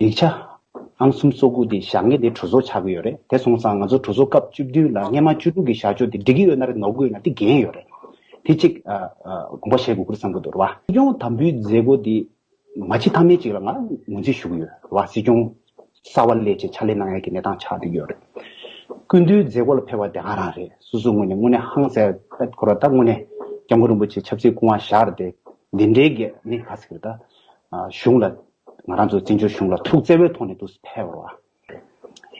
ཡིག་ཆ། ཨང་གསུམ་བཙོག་སྒུག་དེ་བཞག་ངེས་དེ་གྲོས་ཚོགས་ཆགས་གི་ཡོད་རེད་དེ་སོང་ཙང་ང་ཚོ་གྲོས་ཚོགས་སྐབས་བཅུ་བདུན་ལ་སྔན་མ་བཅུ་དྲུག་གི་བཞག་ཕྱོགས་དེ་འགྲིག་གི་ཡོད་ན་རེད་ནོར་གི་ཡོད་ན་དེ་འགན་ཡོད་རེད་དེ་གཅིག་དགོངས་པ་བཞེས་དགོས་ཁུལ་བསམ་གི་འདུག་རེད་བ། སྲིད་སྐྱོང་དམ་འབུལ་མཛད་སྒོ་དེ་མ་ཕྱི་ཐ་མའི་གཅིག་ལ་ང་ངོས་འཛིན་ཞུ་གི་ཡོད་རེད་བ་སྲིད་སྐྱོང་གསར་བ་ལས་བྱེད་ཕྱག་ལས་གནང་ཡ་གི་གནས་སྟངས་ཆགས་འདུག་གི་ཡོད་རེད། སྐུ་མདུན་མཛད་སྒོ་ལ་ཕེབས་བ་དེ་ང་རང་རེད་སོ་སོའི་ངོས་ནས་དངོས་གནས་ཧང་སེ་ཨད་འཁོར་བ་ད་དངོས་གནས་སྐྱབས་མགོན་རིན་པོ་ཆེ་ཆབ་སྲིད་སྐུ་དབང་བཞག་རེད་དེ་འདི་འདྲའི་གེགས་མི་ག་ཟིག་རེད་ད། གཞུང་ལ་ང་རང་ཚོ་བཙན་བྱོལ་གཞུང་ལ་ཐུགས་བརྩེ་བའི་ཐོག་ནས་དུས་ཕལ་བར་བ།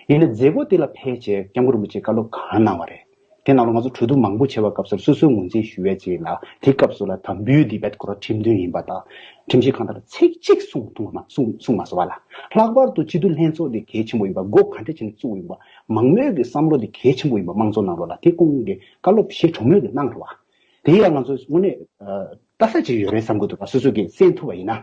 ཡིན་ན་མཛད་སྒོ་དེ་ལ་ཕལ་ཆེར་སྐྱབས་མགོན་རིན་པོ་ཆེས་བཀའ་སློབ་གང་གནང་བ་རེད། དེ་ནང་ལོ་ང་ཚོ་གྲོས་བསྡུར་མང་པོ་བྱས་པ་སྐབས་སར་སོ་སོའི་ངོས་འཛིན་ཞུ་བའི་རྗེས་ལ་དེ་སྐབས་སུ་ལ་དྭགས་འབུའི་དེ་བེད་ཀོར་ཁྲིམས་མཐུན་ཡིན་པ་དང། ཁྲིམས་ཞིབ་ཁང་དང་ལ་ཚིག་གཅིག་གསུང་ཐུང་བ་གསུང་མ་སོང་བ་ལ། ལྷག་པར་དུ་སྤྱི་འཐུས་ལྷན་ཚོགས་དེ་གལ་ཆེན་པོ་ཡིན་པ་སྒོ་གང་འདྲ་བྱས་ནས་བཙུགས་ཡིན་པ། མང་མོས་ཀྱི་བསམ་བློ་དེ་གལ་ཆེན་པོ་ཡིན་པ་དམངས་གཙོ་ནང་ལོ་ལ་དེ་སྐོང་གི་བཀའ་སློབ་བཞེས་གྲོས་མོས་དེ་གནང་བར་བ། དེ་ཡང་ང་ཚོས་དངོས་གནས། ལྟ་ས་ཅིག་ཡོད་རེད་བསམ་གྱི་འདུག་བ་སོ་སོ་གིས་གསན་ཐུབ་པ་ཡིན་ན།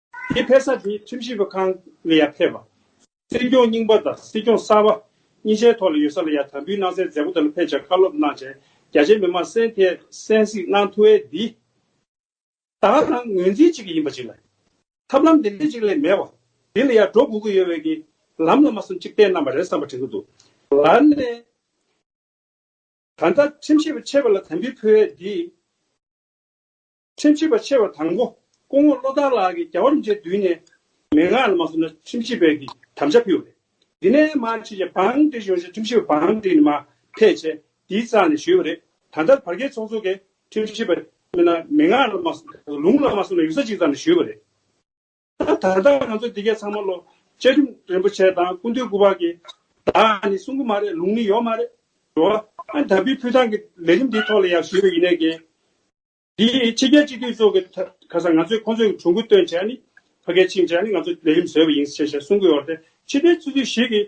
དེའི་ཕེབས་ས་དེ་ཁྲིམས་ཞིབ་པ་ཁང་ལ་ཡང་ཕེབས་པ། སྲིད་སྐྱོང་རྙིང་པ་དང་སྲིད་སྐྱོང་གསར་པ་གཉིས་ཆའི་ཐོག་ལ་ཡོད་ས་ལ་ཡང་དམ་འབུལ་གནང་སའི་མཛད་སྒོ་དེ་ལ་ཕེབས་ཅིང་བཀའ་སློབ་གནང་བྱས་རྒྱ་ཆེའི་མི་མང་སེམས་ཐད་གསན་གཟིགས་གནང་ཐུ་ཨེ་འདི་དག་ནང་ངོས་འཛིན་གཅིག་གི་ཡིན་པ་ཅིག་ལ། ཐབས་ལམ་དེ་འདི་གཅིག་ལས་མེད་པ་དེ་ལ་ཡང་འགྲོ་དགོས་ཀྱི་ཡོད་བས་ཀྱི་ལམ་ལ་མ་སོམས་གཅིག་བསྟན་གནང་བ་རེད་བསམ་པ་དྲན་གྱི་འདུག་ལར་ནས་ད་ལྟ་ཁྲིམས་ཞིབ་པ་ཆེ་བ་ལ་དམ་འབུལ་ཕུལ་ཨེ་འདི། ཁྲིམས་ཞིབ་པ་ཆེ་བ་དང་པོ་སྐུ་ངོ་བློ་བཟང་ལགས་ཀྱིས་རྒྱ་བོད་མཇལ་དུས་ནས་མན་ངག་ལ་མ་སོང་ན་ཁྲིམས་ཞིབ་པའི་གིས་དམ་བཅའ་ཕུལ་བ་རེད། དེ་ནས་མ་ཕྱི་ཞེ་འབངས་འདི་ཡོང་ཞེས་ཁྲིམས་ཞིབ་པ་འབངས་འདི་ནི་མ་ཕེད་ཆེ་དེའི་རྩ་ནས་ཞུས་པ་རེད། ད་ལྟར་བར་བརྒལ་ཚོགས་གཙོ་གིས་ཁྲིམས་ཞིབ་པ་མན་ངག་ལ་མ་སོང་ན་ལུང་ལ་མ་སོང་ན་ཡུག་ས་གཅིག་ཙམ་ནས་ཞུས་པ་རེད། ད་ལྟ་ང་ཚོ་འདི་གའི་ཚང་མ་ལོ་བཅའ་ཁྲིམས་རིན་པོ་ཆེ་དང་སྐུ་མདུན་སྐུ་དཔག་གི་བདག་ནི་གསུང་གི་མ་རེད་ལུང་ནི་ཡོད་མ་རེད་འགྲོ་བ་ཨ་ད་པི་ཕུ་ཐང་གི་ལས་རིམ་འདིའི་ཐོག་ལ་ཡག་ཞུས་པ་ཡིན་ནའི་གན་འདི་ཕྱི་རྒྱལ་སྤྱི་འཐུས་ཚོགས་ཀྱི་ཁ་སང་ང་ཚོས་ཁོང་ཚོས་གྲོས་འགུལ་བཏོན་བྱས་ནི་ཕ་གའི་ཕྱིན་བྱས་ནི་ང་ཚོ་ལས་རིམ་བཟོས་པ་ཡིན་ཞེས་ཞེས་གསུང་གི་ཡོད་རེད་ཕྱི་རྒྱལ་སྤྱི་འཐུས་ཞིག་གིས་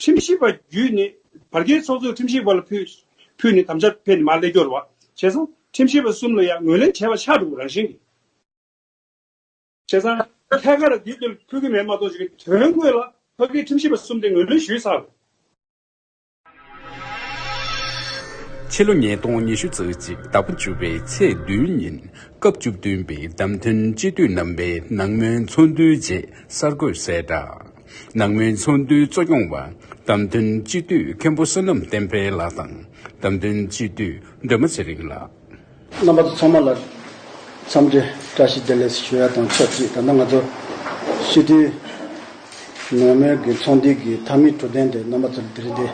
ཁྲིམས་ཞིབ་པ་བརྒྱུད་ནས་བར་བརྒལ་ཚོགས་གཙོས་ཁྲིམས་ཞིབ་པ་ལ་ཕུལ་ནས་དམ་བཅའ་ཕེབས་ནས་མར་སླེབས་སྐྱོར་བ་བྱས་སོང། ཁྲིམས་ཞིབ་པ་གསུམ་ལ་ཡང་ངོས་ལེན་བྱས་པ་ཆགས་འགྲོ་རང་བཞིན་གྱིས། བྱས་ཙང། ཐད་ཀར་དེབ་དེ་ཕུལ་གྱི་མེད་མ་གཏོགས་ཀྱི་དོན་དངོས་ལ་བར་བརྒལ་ཁྲིམས་ཞིབ་པ་གསུམ་དེ་ངོས་ལེན་ཞུས་ཚར་རེད། ཕྱི་ལོ་ཉིས་སྟོང་ཉི་ཤུ་ཚེས་གཅིག་ཟླ་བ་བཅུ་པའི་ཚེས་བདུན་ཉིན་སྐབས་བཅུ་བདུན་པའི་བདམས་ཐོན་སྤྱི་འཐུས་རྣམ་པའི་ནང་མོལ་ཚོགས་འདུའི་རྗེས་གསར་འགོད་གསལ་བསྒྲགས། ནང་མའི་ཚོགས་འདུའི་གཙོ་སྐྱོང་བ་བདམས་ཐོན་སྤྱི་འཐུས་མཁན་པོ་བསོད་ནམས་བསྟན་འཕེལ་ལགས་དང་བདམས་ཐོན་སྤྱི་འཐུས་སྒྲོལ་མ་ཚེ་རིང་ལགས། རྣམ་པ་ཚོ་ཚང་མ་ལ་འཚམས་འདྲི་བཀྲ་ཤིས་བདེ་ལེགས་སུ་ཞུ་ཡ་དང་ཆབས་ཅིག་ད་ལྟ་ང་ཚོ་སྤྱི་འཐུས་ནང་མའི་གི་ཚོགས་འདུའི་གི་མཐའ་མའི་གྲུ་གདན་དེ་རྣམ་པ་ཚོ་ལ་དེ་རིང་འདི་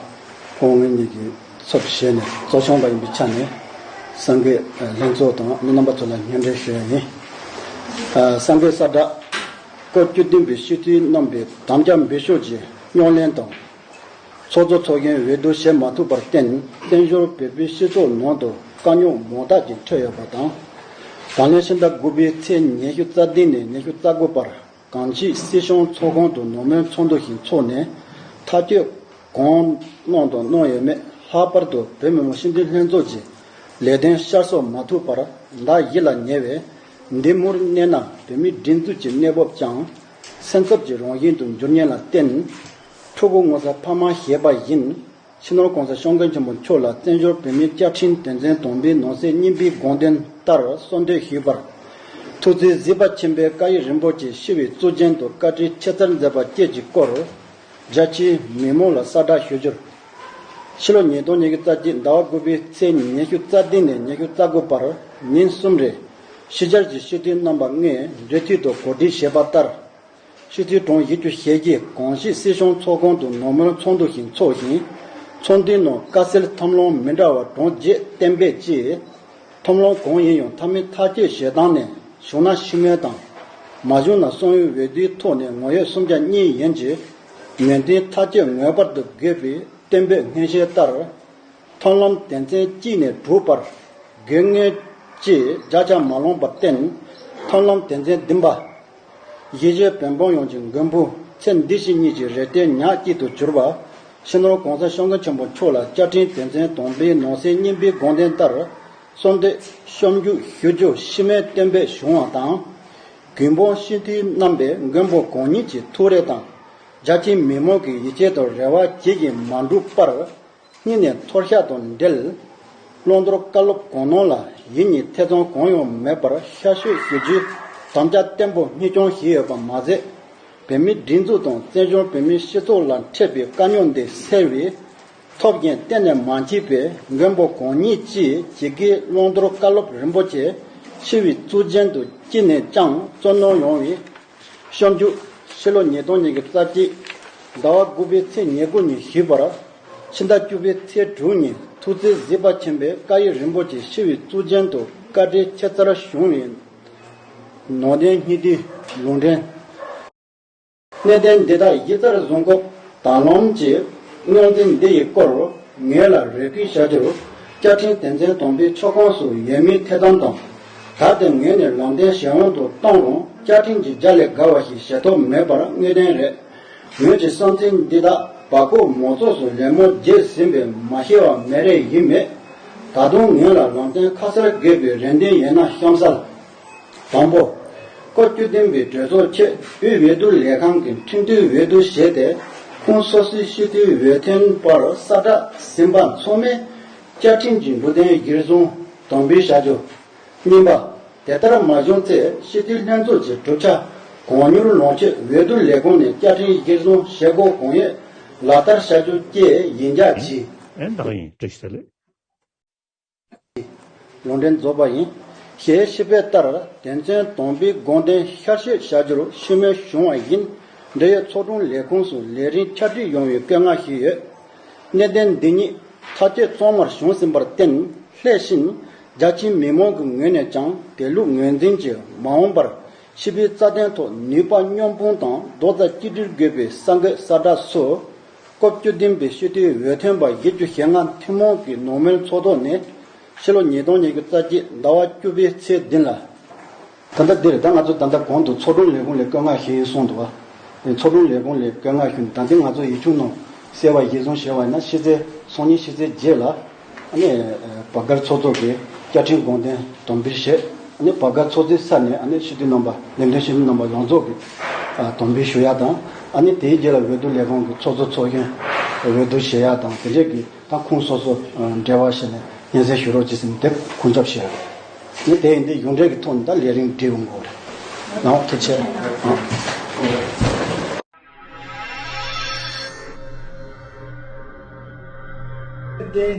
ཁོང་ངེད་གཉིས་ཀྱི་ཚབ་ཏུ་བཞེས་ནས་གཙོ་སྐྱོང་བ་ཡིན་པའི་ཆ་ནས་སངས་རྒྱས་ལྷན་ཚོགས་དང་མི་རྣམ་པ་ཚོ་ལ་སྙན་འབྲེལ་ཞུ་ཡ་ཡིན། སངས་རྒྱས་གསར་བསྒྲགས། སྐོར་སྐྱོད་བདུན་པའི་ཤུལ་ཐུའི་རྣམ་པའི་དམ་བཅའ་འབུལ་ཤོག་ཅིག་རྙོག་གླེང་དང། ཚོགས་གཙོ་ཚོགས་མཁན་འོས་བསྡུ་བྱེད་མ་ཐུབ་པར་བརྟེན་བཙན་བྱོལ་བོད་པའི་སྤྱི་ཚོགས་ནང་དུ་དཀའ་རྙོག་མང་དག་ཅིག་འཕྲད་ཡོད་པ་དང། ད་ལན་ཕྱི་ཟླ་དགུ་པའི་ཚེས་ཉེར་བཞི་རྩ་བདུན་ནས་ཉེར་བཅུ་རྩ་དགུ་བར་གངས་སྐྱིད་སྲིད་གཞུང་ཚོགས་ཁང་དུ་ནོར་མོན་ཚོགས་འདུ་ཞིག་འཚོགས་ནས་མཐའ་སྐྱོད་གང་གནང་དང་གནང་ཡོད་མེད་ལྷག་པར་དུ་བོད་མི་མང་སྤྱི་མཐུན་ལྷན་ཚོགས་ཀྱི་ལས་དོན་ཤར་གསོ་མ་ཐུབ་པར་བདག་ཡིད་ལ་ཉེ་བའི་འདི་མུར་གནས་ན་བོད་མིའི་སྒྲིག་འཛུགས་ཀྱི་གནས་བབ་ཀྱང་སེམས་འཚབ་ཀྱི་རང་བཞིན་དུ་འགྱུར་ཉེན་ལ་བརྟེན། ཕྲུ་གུ་ངོ་ས་ཕ་མ་ཞེས་པ་བཞིན་ཕྱི་ནང་གང་སར་ཤོང་མཁན་ཆེན་པོ་མཆོག་ལ་བཙན་བྱོལ་བོད་མིའི་བཅའ་ཁྲིམས་དོན་ཚན་དང་པོའི་ནང་གསེས་གཉིས་པའི་དགོངས་དོན་ལྟར་གསོལ་འདེབས་ཞུས་པར། ཐུགས་བརྩེ་གཟི་པ་ཆེན་པོའི་བཀའ་ཡིག་རིན་པོ་ཆེ་ཤི་བའི་གཙུག་རྒྱན་དུ་བཀའ་ཁྲིའི་ཆེ་མཚར་མཛད་པ་བཅས་ཀྱི་སྐོར། རྒྱལ་སྤྱིའི་མི་མང་ལ་གསལ་བསྒྲགས་ཞུ་རྒྱུར། ཕྱི་ལོ་ཉིས་སྟོང་ཉེར་དགུ་རྩ་གཅིག་ཟླ་བ་དགུ་པའི་ཚེས་ཉིན་ཉི་ཤུ་རྩ་བདུན་ནས་ཉི་ཤུ་རྩ་དགུ་བར་ཉིན་གསུམ་རེ། ཕྱི་རྒྱལ་གྱི་ཤི་འཐུས་རྣམ་པ་ལྔའི་འབྲེལ་མཐུད་དུ་གོ་སྒྲིག་བྱས་པ་ལྟར། ཤི་འཐུས་གྲངས་བཞི་བཅུ་ཞེ་བརྒྱད་གངས་སྐྱིད་སྲིད་གཞུང་ཚོགས་ཁང་དུ་ནོར་མོན་ཚོགས་འདུ་ཞིག་འཚོགས་ཤིང། ཚོགས་འདུའི་ནང་དཀའ་སེལ་ཐབས་ལམ་མི་འདྲ་བ་གྲངས་བརྒྱད་གཏན་འབེབས་བྱས། ཐོམ་ལོང་གང་ཡིན་ཡང་ཐ་མི་ཐ་སྐྱེས་ཞེ་སྡང་ནས་བྱུང་ན་ཤི་མོའི་དང། མ་བྱུང་ན་སོང་ཡུལ་འོས་བསྡུའི་ཐོག་ནས་ངོ་ཡོད་སུམ་བརྒྱ་གཉིས་ཡན་གྱི་ངན་འབྲེལ་ཐ་སྐྱེས་ངོས་པར་དུ་དགེ་བའི་བསྟན་པའི་སྔན་བཤད་ལྟར། མཐོང་ལམ་དད་མཚན་གཅིག་ནས་གྲུབ་པར་དགེ་བསྔལ། ཅེས་བརྒྱ་ཆ་མ་ལོངས་པར་བརྟེན། མཐོང་ལམ་དད་མཚན་བདུན་པ། གཞིས་བྱེས་བོན་འབངས་ཡོངས་ཀྱི་མགོན་པོ་ཚེ་འདི་བཞིན་གཉིས་ཀྱི་རེ་ལྟོས་ཉག་སྐྱིད་དུ་གྱུར་པ། ཕྱི་ནང་གོང་ས་ཤོག་མཁན་ཆེན་པོ་མཆོག་ལ་བཅའ་ཁྲིམས་དོན་ཚན་དང་པོའི་ནང་གསེས་གཉིས་པའི་དགོངས་དོན་ལྟར། གསོལ་འདེབས་གཤོམ་འཇུག་ཞུ་རྒྱུ་ཕྱི་མའི་སྟོན་པའི་གཞུང་བ་དང། རྒྱུད་འབངས་སྤྱི་འཐུས་རྣམ་པས་མགོན་པོ་གང་ཉིད་ཀྱི་ཐུགས་རེ་དང། རྒྱ་ཆེའི་མི་མང་གི་ཡིད་ཆེས་དང་རེ་བ་ཇི་བཞིན་མ་འགྲུབ་པར། གཉིས་ནས་ཐོར་ཤ་དང་འབྲེལ། བློ་མཐོར་བཀའ་སློབ་གང་གནང་ལ་ཡིད་གཉིས་ཐེ་ཚོམ་གང་ཡང་མེད་པར་ཤ་ཤོད་ཞུ་རྒྱུའི་དམ་བཅའ་བརྟན་པོ་གཉིས་སྐྱོང་བཞིན་ཡོད་པ་མ་ཟད། བོད་མིའི་སྒྲིག་འཛུགས་དང་བཙན་བྱོལ་བོད་མིའི་སྤྱི་ཚོགས་ལ་འཕྲད་པའི་དཀའ་རྙོག་འདི་སེལ་བའི་ཐོབ་རྒྱན་གཏན་ནས་མ་མཆིས་པས་མགོན་པོ་གང་ཉིད་ཅི་བྱེད་དགེའི་བློ་མཐོར་བཀའ་སློབ་རིན་པོ་ཆེ་ཕྱི་བའི་གཙུག་རྒྱན་དུ་ཅི་ནས་ཀྱང་བཙོན་གནང་ཡོང་བའི་བཤམས་རྒྱུ། ཕྱི་ལོ་ཉིས་སྟོང་ཉིན་གྱི་རྩ་གཅིག། ཟླ་བ་དགུ་པའི་ཚེས་ཉེར་དགུ་ཉིན་བཞུགས་པར། ཕྱི་ཟླ་བཅུ་པའི་ཚེས་དྲུག་ཉིན་ཐུགས་བརྩེའི་གཟི་དཔའ་ཆེན་པོའི་བཀའ་ཡི་རིན་པོ་ཆེ་ཤི་བའི་གཙུག་རྒྱན་དུ་བཀའ་ཁྲིའི་ཁྱད་མཚར་བྱུང་བའི། ནོར་ལྡན་སྙིང་ཐིག་ལུང་འདྲེན། གནས་བརྟན་འདི་དག་ཡིད་རྩར་བཟུང་སྐབས་དག་སློང་གི་སྨྱུང་རྩིས་འདི་ཡི་སྐོར་ངེད་ལ་རེ་སྐུལ་བྱ་རྒྱུར། བསྐྱར་འཕྲིན་དེ་མཚན་དོམ་པའི་ཕྱོགས་ཁོངས་སུ་ཡོད་མིན་ཐེ་ཚོམ་དང། ད་དེ་ངོས་ནས་ལོང་བསྟན་གཞན་དབང་དུ་གཏོང་རུང་བཅའ་ཁྲིམས་ཀྱི་རྒྱ་ལས་འགལ་བ་ཞིག་བྱེད་ཐོབ་མེད་པར་དངོས་བདེན་རེད། ངོས་ཀྱི་བསམ་ཚུལ་འདི་དག་བ་ཀོ་མོ་ཚོགས་སུ་ལད་མོ་རྒྱས་ཟིན་པས་མ་ཤེས་བ་མེད་རེ་ཡིན་མེད། ད་དུང་ངོས་ལ་ལོང་བསྟན་ཁ་གསལ་དགོས་པའི་རེ་འདུན་ཡོད་ན་གཤམ་གསལ། དང་པོ། བཀའ་བརྒྱུད་བསྟན་པའི་གྲོས་ཚོགས་ཆེད་དབུས་འོས་བསྡུ་ལས་ཁང་གི་མཐུན་བསྡུའི་འོས་བསྡུ་བྱས་ཏེ་ཁུངས་སོ་སོའི་ཤེས་རྟོལ་འོས་ཐོན་པར་གསར་བསྒྲགས་ཟིན་པ་མཚོ་སྨད་བཅའ་ཁྲིམས་ཀྱི་འབྲུ་དོན་གཞིར་བཟུང་དོན་འབུལ་བྱ་རྒྱུ། གཉིས་པ། དེ་ལྟར་མ་བྱུང་ཚེ་སྤྱི་འཐུས་ལྷན་ཚོགས་ཀྱི་གྲུབ་ཆ་གང་མྱུར་ལོངས་སྤྱོད་འོས་བསྡུ་ལས་ཁུངས་ནས་བཅའ་ཁྲིམས་གཞིར་བཟུང་བྱེད་སྒོ་གང་ཡོད་ལག་བསྟར་བྱ་རྒྱུ་བཅས་ཡིན་རྒྱ་བྱིས། ལུང་འདྲེན་རྫོགས་པ་ཡིན། ཞེས་ཞུས་པའི་ལྟར་དེ་མཚོན་དོན་འབུལ་དགོངས་དོན་ཤར་བཤད་བྱ་རྒྱུར་ཤུགས་སྣོན་བྱུང་བ་ཡིན། འབྲེལ་ཡོད་ཚོགས་དྲུང་ལས་ཁུངས་སུ་ལས་རིམ་ཁྱབ་བསྒྲིགས་ཡོང་བའི་བཀའ་མངགས་ཞུས་ཡོད། གནད་དོན་འདི་ཉིད་ཐ་དད་གཙང་མར་བྱུང་ཟིན་པར་བརྟེན་སླད་བཞིན་རྒྱ་ཆེའི་མི་མང་གི་ངོས་ནས་ཀྱང་དེ་ལུགས་ངོས་འཛིན་གྱིས་མ་འོངས་པར་ཕྱི་པའི་རྩ་དོན་ཐོག་ནུས་པ་སྙོམས་སྤུངས་དང་རྡོག་རྩ་གཅིག་སྒྲིལ་དགོས་པའི་ས་འགོད་ས་བསྒྲགས་སུ། སྐབས་བཅུ་བདུན་པའི་ཤུལ་ལྟེའི་འོས་ཐོན་པ་བཞི་བཅུ་ཞེ་ལྔ་ཐུན་མོང་གི་ནོར་མོན་ཚོགས་ཐོག་ནས་ཕྱི་ལོ་ཉིས་སྟོང་ཉེར་དགུ་རྩ་གཅིག་ཟླ་བ་བཅུ་པའི་ཚེས་བདུན་ལ། ད་ལྟ་འདིར་ད་ང་ཚོ་ད་ལྟ་གོང་དུ་ཚོགས་དྲུང་ལས་ཁུངས་ལས་བཀོད་མངགས་ཞེས་གསུངས་འདུག་བ། ཚོགས་དྲུང་ལས་ཁུངས་ལས་བཀོད་མངགས་ཞུ་ནས་ད་ལྟའི་ང་ཚོ་ཡིག་ཆུང་ནང་གསལ་བ་ཞིག་བཟུང་ཞེས་བ་ཡིན་ན་ཕྱི་ཚེས་སོ་གཉིས་ཕྱི་ཚེས་བརྒྱད་ལ། བ་སྒར་ཚོགས་གཙོ་གིས་བསྐྱར་འཕྲིན་དགོངས་དོན་དོན་འབུལ་བཞེས། བ་སྒར་ཚོགས་གཙོའི་ས་ནས་ཞུ་དུས་རྣམ་པ་ལས་དོན་ཞུ་དུས་རྣམ་པ་ཡོངས་རྫོགས་ཀྱི་དོན་འབུལ་ཞུ་ཡག་དང། དེའི་རྗེས་ལ་འོས་བསྡུ་ལས་ཁང་གི་ཚོགས་གཙོ་ཚོགས་གཞོན་འོས་བསྡུ་བཞེས་ཡག་དང་དེ་འབྲེལ་གྱི་ཏང་ཁུངས་སོ་སོ་འབྲེལ་བ་བྱས་ནས་སྙན་སེང་ཞུ་རོགས་ཅེས་སེམས་འདེབས་ཁུངས་ཚབ་བྱས་ཡོད། ངས་དེ་ཡིན་དེ་ཡོང་འབྲེལ་གྱི་ཐོག་ནས་ད་ལས་རིང་འབྲེལ་ཡོང་དགོས་རེད་ནའོ་ཐུགས་ཆེ་རྟེན།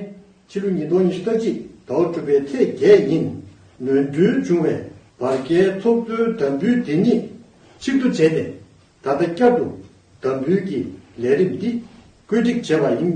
ཕྱི་ལོ་ཉིས་སྟོང་ཉི་ཤུ་རྩ་གཅིག་དྭོགས་གྲུབ་པའི་ཚེས་བརྒྱད་ཉིན་ནོན་འཁྲུལ་བྱུང་བའི་བར་བརྒལ་ཚོགས་གཙོའི་དམ་འབུལ་དེ་ཉིད་ཕྱིར་བསྡུ་བྱས་ཏེ་ད་ལྟ་བསྐྱར་དུ་དམ་འབུལ་གྱི་ལས་རིམ་འདི་བཀོད་སྒྲིག་བྱས་པ་ཡིན།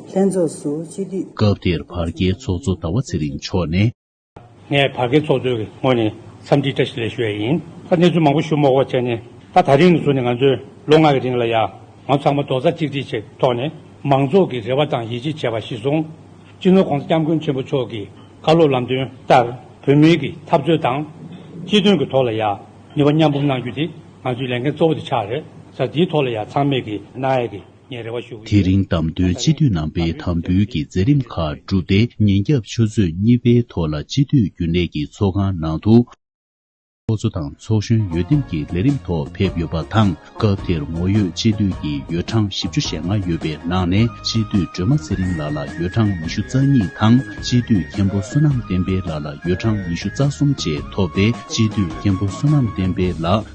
ལྷན་ཚོགས་སུ་སྤྱི་འཐུས། སྐབས་དེར་བར་བརྒལ་ཚོགས་གཙོ་ཟླ་བ་ཚེ་རིང་མཆོག་ནས། ངས་བར་བརྒལ་ཚོགས་གཙོའི་ངོས་ནས་འཚམས་འདྲིའི་བཀྲ་ཤིས་ལན་ཞུ་བས་ཡིན། ད་གནས་ཚུལ་མང་པོ་ཞུ་མོག་པོ་བྱས་ནས་ད་ད་རིང་ནས་བཟུང་ནས་ང་ཚོས་ལོ་ལྔ་གི་རིང་ལ་ཡང་ང་ཚང་མ་རྡོག་རྩ་གཅིག་སྒྲིལ་བྱས་ཐོག་ནས་མང་ཚོགས་ཀྱི་རེ་བ་དང་ཡིད་ཆེས་བྱས་པ་གཞི་བཟུང། སྤྱི་ནོར ྋགོང་ས ྋསྐྱབས་མགོན་ཆེན་པོ་མཆོག་གི་བཀའ་སློབ་ལམ་སྟོན་ལྟར་བོད་མིའི་གི་འཐབ་རྩོད་དང། སྤྱི་དོན་གྱི་ཐོག་ལ་ཡང་ནུས་པ་མཉམ་སྤུངས་གནང་རྒྱུ་དེ་ང་ཚོའི་ལས་འགན་གཙོ་བོ་དེ་ཆགས་རེད་ས། དེའི་ཐོག་ལ་ཡང་ཚང་མས་གི་ནའི་གི་དེ་རིང་བདམས་ཐོན་སྤྱི་འཐུས་རྣམ་པས་དམ་འབུལ་གྱི་མཛད་རིམ་ཁག་བསྒྲུབས་ཏེ་ཉིན་རྒྱབ་ཆུ་ཚོད་གཉིས་པའི་ཐོག་ལ་སྤྱི་འཐུས་རྒྱུན་ལས་ཀྱི་ཚོགས་ཁང་ནང་དུ། ཚོགས་གཙོ་དང་ཚོགས་གཞོན་ཡོ་ཏིན་གྱི་ལས་རིམ་ཐོག་ཕེབས་ཡོད་པ་དང་སྐབས་དེར་ངོ་ཡོད་སྤྱི་འཐུས་ཀྱི་ཡོ་གྲངས་བཞི་བཅུ་ཞེ་ལྔ་ཡོད་པའི་ནང་ནས་སྤྱི་འཐུས་སྒྲོལ་མ་ཚེ་རིང་ལགས་ལ་ཡོ་གྲངས་ཉི་ཤུ་རྩ་གཉིས་དང་སྤྱི་འཐུས་མཁན་པོ་བསོད་ནམས་བསྟན་འཕེལ་ལགས་ལ་ཡོ་གྲངས་ཉི་ཤུ་རྩ་གསུམ་བཅས་ཐོབ་སྟེ་སྤྱི་འཐུས་མཁན་པོ་བསོད་ནམས་བསྟན་འཕེལ་ལགས་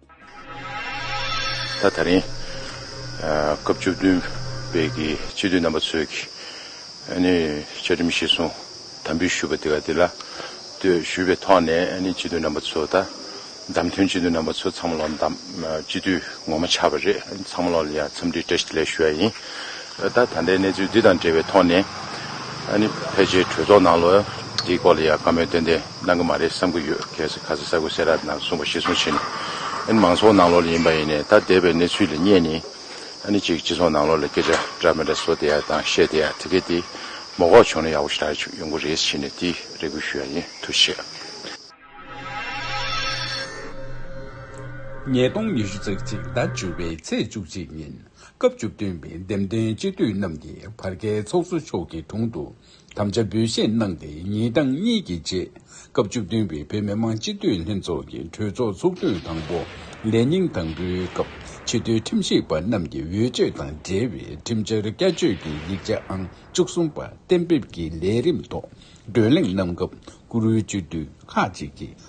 ད་ད་རིང་སྐབས་བཅུ་བདུན་པའི་གི་སྤྱི་འཐུས་རྣམ་པ་ཚོས་གི་ཨ་ནི་བཅའ་ཁྲིམས་གཞི་བཟུང་དམ་འབུལ་ཞུས་པ་དེ་ག་དེ་ལ་ལྟོས་ཞུས་པའི་ཐོག་ནས་ཨ་ནི་སྤྱི་འཐུས་རྣམ་པ་ཚོ་ད་བདམས་ཐོན་སྤྱི་འཐུས་རྣམ་པ་ཚོ་ཚང་མ་ལོ་བདམས་སྤྱི་འཐུས་ངོ་མ་ཆགས་པ་རེད་ཚང་མ་ལོ་ལ་ཡང་འཚམས་འདྲི་བཀྲ་ཤིས་བདེ་ལེགས་ཞུ་ཡ་ཡིན་ད་ད་ལྟའི་གནས་ཚུལ་འདི་དང་འབྲེལ་བའི་ཐོག་ནས་ཨ་ནི་ཕལ་ཆེར་གྲོས་ཚོགས་ནང་ལོ་འདིའི་སྐོར་ལ་ཡང་བཀའ་མོལ་ཏན་ཏན། གནང་གི་མ་རེད་བསམ་གི་ཡོད་གལ་སྲིད་ཁ་ཟས་ཟ་དགོས་ཟེར་ར་ནང་གསུངས་པ་གཞི་བཟུང་བྱེད་ནི་ཨཱ་ནི་མང་ཚོགས་ནང་ལོགས་ལ་ཡིན་པ་ཡིན་ནས་ཐ་དད་པའི་གནས་ཚུལ་ལ་བསྙད་ནི་ཨཱ་ནི་གཅིག་སྤྱི་ཚོགས་ནང་ལོགས་ལ་སྐད་ཆ་འདྲ་མི་འདྲ་བཟོ་བསྡད་ཡ་དང་བཤད་བསྡད་ཡ་དེ་གས་དེ་མོ་གོག་བྱུང་ན་ཡག་པོ་ཞིག་རག་ཡོང་གི་རེད་བྱེད་ནི་དེ་རེ་སྐུལ་ཞུ་ཡ་ཡིན་ཐུགས་རྗེ་ཆེ། ཉིས་སྟོང་ཉི་ཤུ་ཚེག་གཅིག་ཟླ་བཅུ་བའི་ཚེས་བཅུ་གཅིག་ཉིན་སྐབས་བཅུ་བདུན་པའི་འདེམས་ཐོན་སྤྱི་འཐུས་རྣམས་ཀྱི་བར་བརྒལ་ཚོགས་གཙོ་མཆོག་གི་དྲུང་དུ་དམ་བཅའ་འབུལ་བཞེས་གནང་སྟེ་ཉིན་གྲངས་གཉིས་ཀྱི་རྗེས་སྐབས་བཅུ་བདུན་པའི་བོད་མི་མང་སྤྱི་འཐུས་ལྷན་ཚོགས་ཀྱི་གྲོས་ཚོགས་ཚོགས་དུས་དང་པོ་ལས་ཉིན་དང་པོའི་སྐབས་ཕྱི་སྡོད་ཁྲིམས་ཞིབ་པ་རྣམས་ཀྱི་འོས་ཆོས་དང་འབྲེལ་བའི་ཁྲིམས་འཆར་བསྐྱར་བཅོས་ཀྱི་ཡིག་ཆ་ཨང་བཅུ་གསུམ་པ་གཏན་འབེབས་ཀྱི་ལས་རིམ་ཐོག་བགྲོ་གླེང་གནང་སྐབས་བཀུར་འོས་སྤྱི་འཐུས་ཁག་ཅིག་གིས།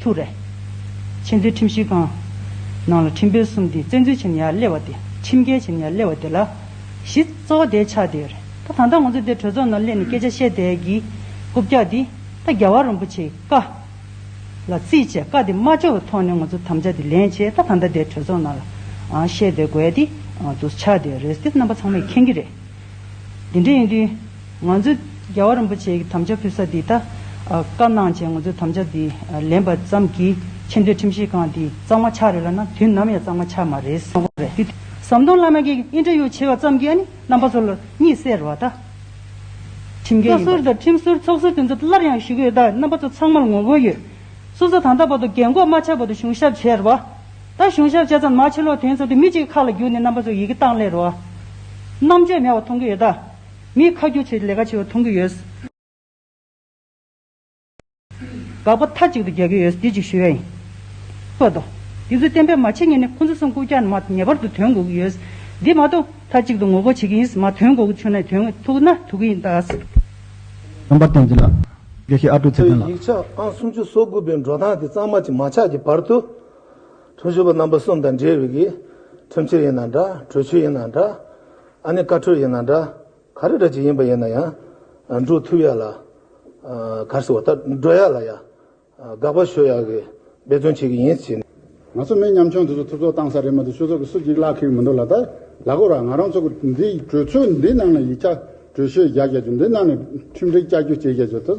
ཐུགས་རེ། ཆེས་མཐོའི་ཁྲིམས་ཞིབ་ཁང། ནང་ལ་ཁྲིམས་དཔོན་གསུམ་དེ་བཙན་འཛུལ་བྱས་ནས་ཡར་སླེབས་བ་དེ་ཁྲིམས་འགལ་བྱས་ནས་ཡར་སླེབས་བ་དེ་ལ་གཞི་རྩ་བ་དེའི་ཆ་དེ་ཡོད་རེད་ད་ད་ལྟ་ང་ཚོ་དེ་གྲོས་ཚོགས་ནང་སླེབས་ནས་སྐད་ཆ་བཤད་དེ་གི་རྐུབ་བཀྱག་དེ་ད་རྒྱ་བ་རིན་པོ་ཆེའི་བཀའ་ལ་རྩིས་བྱས་བཀའ་དེ་མ་འབྱོར་བའི་ཐོག་ནས་ང་ཚོ་དམ་བཅའ་དེ་ལེན་བྱས་ད་ད་ལྟ་དེ་གྲོས་ཚོགས་ནང་ལ་བཤད་དེ་དགོས་དེ་འདུག་ཆ་དེ་རེད་དེ་རྣམ་པ་ཚང་མས་མཁྱེན་གྱི་རེད་དེ་འདྲ་ཡིན་དུས། ང་ཚོས་རྒྱལ་བ་རིན་པོ་ཆེའི་དམ་བཅའ་ཕུལ་ས་དེ་དག་བཀའ་གནང་བྱས་ང་ཚོས་དམ་བཅའ་དེ་ལེན་པ་ཙམ་གྱིས་ཆེ་འདོད་ཁྲིམས་ཞིབ་ཁང་དེ་གཙང་མ་ཆགས་རེད་ལབ་ན་དུས་ནམ་ཡང་གཙང་མ་ཆགས་མ་རེད་སེམས་ཁོང་རེད། ཟམ་གདོང་བླ་མ་གིས་ཨིན་ཏེར་ཡོ་བྱས་པ་ཙམ་གྱིས་ཨ་ནི་རྣམ་པ་ཚོ་ལ་གཉིད་སད་རོགས་ད། ཁྲིམས་འགལ་ཡིན་པ། བཀའ་ཟུར་དང་ཁྲིམས་ཟུར་ཚོགས་ཟུར་དེ་ཚོ་སླར་ཡང་ཞུ་གི་ཡོད་ད་རྣམ་པ་ཚོ་ཚང་མར་ངོ་རྒོལ་ཡོད། སུ་ས་དང་ད་བར་དུ་རྒན་འགོག་མ་ཆགས་བར་དུ་གཞུང་ཞབས་བྱས་རོགས་ད། ད་གཞུང་ཞབས་བྱས་ཙམ་མ་བྱས་ལོག་དེ་ཚོ་དེ་མི་གཅིག་གི་ཁ་ལ་བརྒྱུགས་ནས་རྣམ་པ་ཚོ་ཡི་གེ་བཏང་སླེ་རོགས། རྣམ་དཔྱོད་མེད་བ་མཐོང་གི་ཡོད་ད། ངས་ཁ་རྒྱུགས་བྱས་ཏེ་ལས་ཀ་བྱེད་པ་མཐོང་གི་ཡོད། དགག་པ་མཐའ་གཅིག་ཏུ་རྒྱག་གི་ཡོད། འདི་གཅིག་ཞུ་ཡ་ཡིན། བཀོད་འདུག་དེ་ཚོས་གཏན་འབེབས་མ་བྱས་ངེས་ནས་ཁོ་ཚོ་སེམས་ཁུར་བསྐྱངས་ན་མ་ངེས་པར་དུ་དོན་གོ་གི་ཡོད། འདི་མ་གཏོགས་མཐའ་གཅིག་ཏུ་ངོ་རྒོལ་བྱེད་ཀྱི་ཡིན། མ་དོན་གོ་གི་ཆོད་ན་དོན་ཐུག་ན་ཐུག་གི་ཡིན་ད། རྣམ་པར་བསྟན་འཛིན་ལགས། དགེ་བཤེས་ཨ་ཀྲུག་ཚེ་བརྟན་ལགས། ཡིག་ཆ་ཨང་སུམ་ཅུ་སོ་དགུ་པའི་འགྲོ་སྟངས་དེ་གཙང་མ་གྱི་མ་ཆགས་ཀྱི་བར་དུ། དྲུང་ཆེ་པ་རྣམ་པ་གསུམ་དང་འབྲེལ་བའི་གི། ཁྲིམས་ཆད་ཡིན་ན་འདྲ་གྲོས་ཆོད་ཡིན་ན་འདྲ། ཨ་ནི་བཀའ་འཁྲོལ་ཡིན་ན་འདྲ། ག་རེ་འདྲ་ཅིག་ཡིན་པ་ཡིན་ན་ཡང། འགྲོ་ཐུབ་ཡ་ལ། གར་སོ་བ་ལྟར་འགྲོ་ཡ་ལ་ཡ། དགག་པ་ཞོ་ཡ་གི་འབད་བརྩོན་བྱེད་གི་ཡིན་ཟེར་ནས། ང་ཚོ་མི་མཉམ་ཆུང་དེ་ཚོ་ཐུབ་ཚོགས་བཏང་ས་རེད་མ་འདུག་ཆུ་ཚོགས་ཀྱི་སུ་གཅིག་གླག་ཁེག་མི་འདུག་ལ་ད་ལ་གོ་ར་ང་རང་ཚོ་འདི་གྲོས་ཚོགས་འདི་ནང་ལ་ཡིག་ཆ་གྲོས་ཤོད་རྒྱག་རྒྱག་རྒྱུ་འདི་ནང་ནས་ཁྲིམས་སྒྲིག་བསྐྱར་རྒྱུ་བྱེད་རྒྱག་རྒྱུ་ད་ཚོ་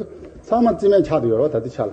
ཚང་མ་རྩིས་མེད་ཆགས་དུ་ཡོད་ར་བ་ད་འདི་ཆ་ལ།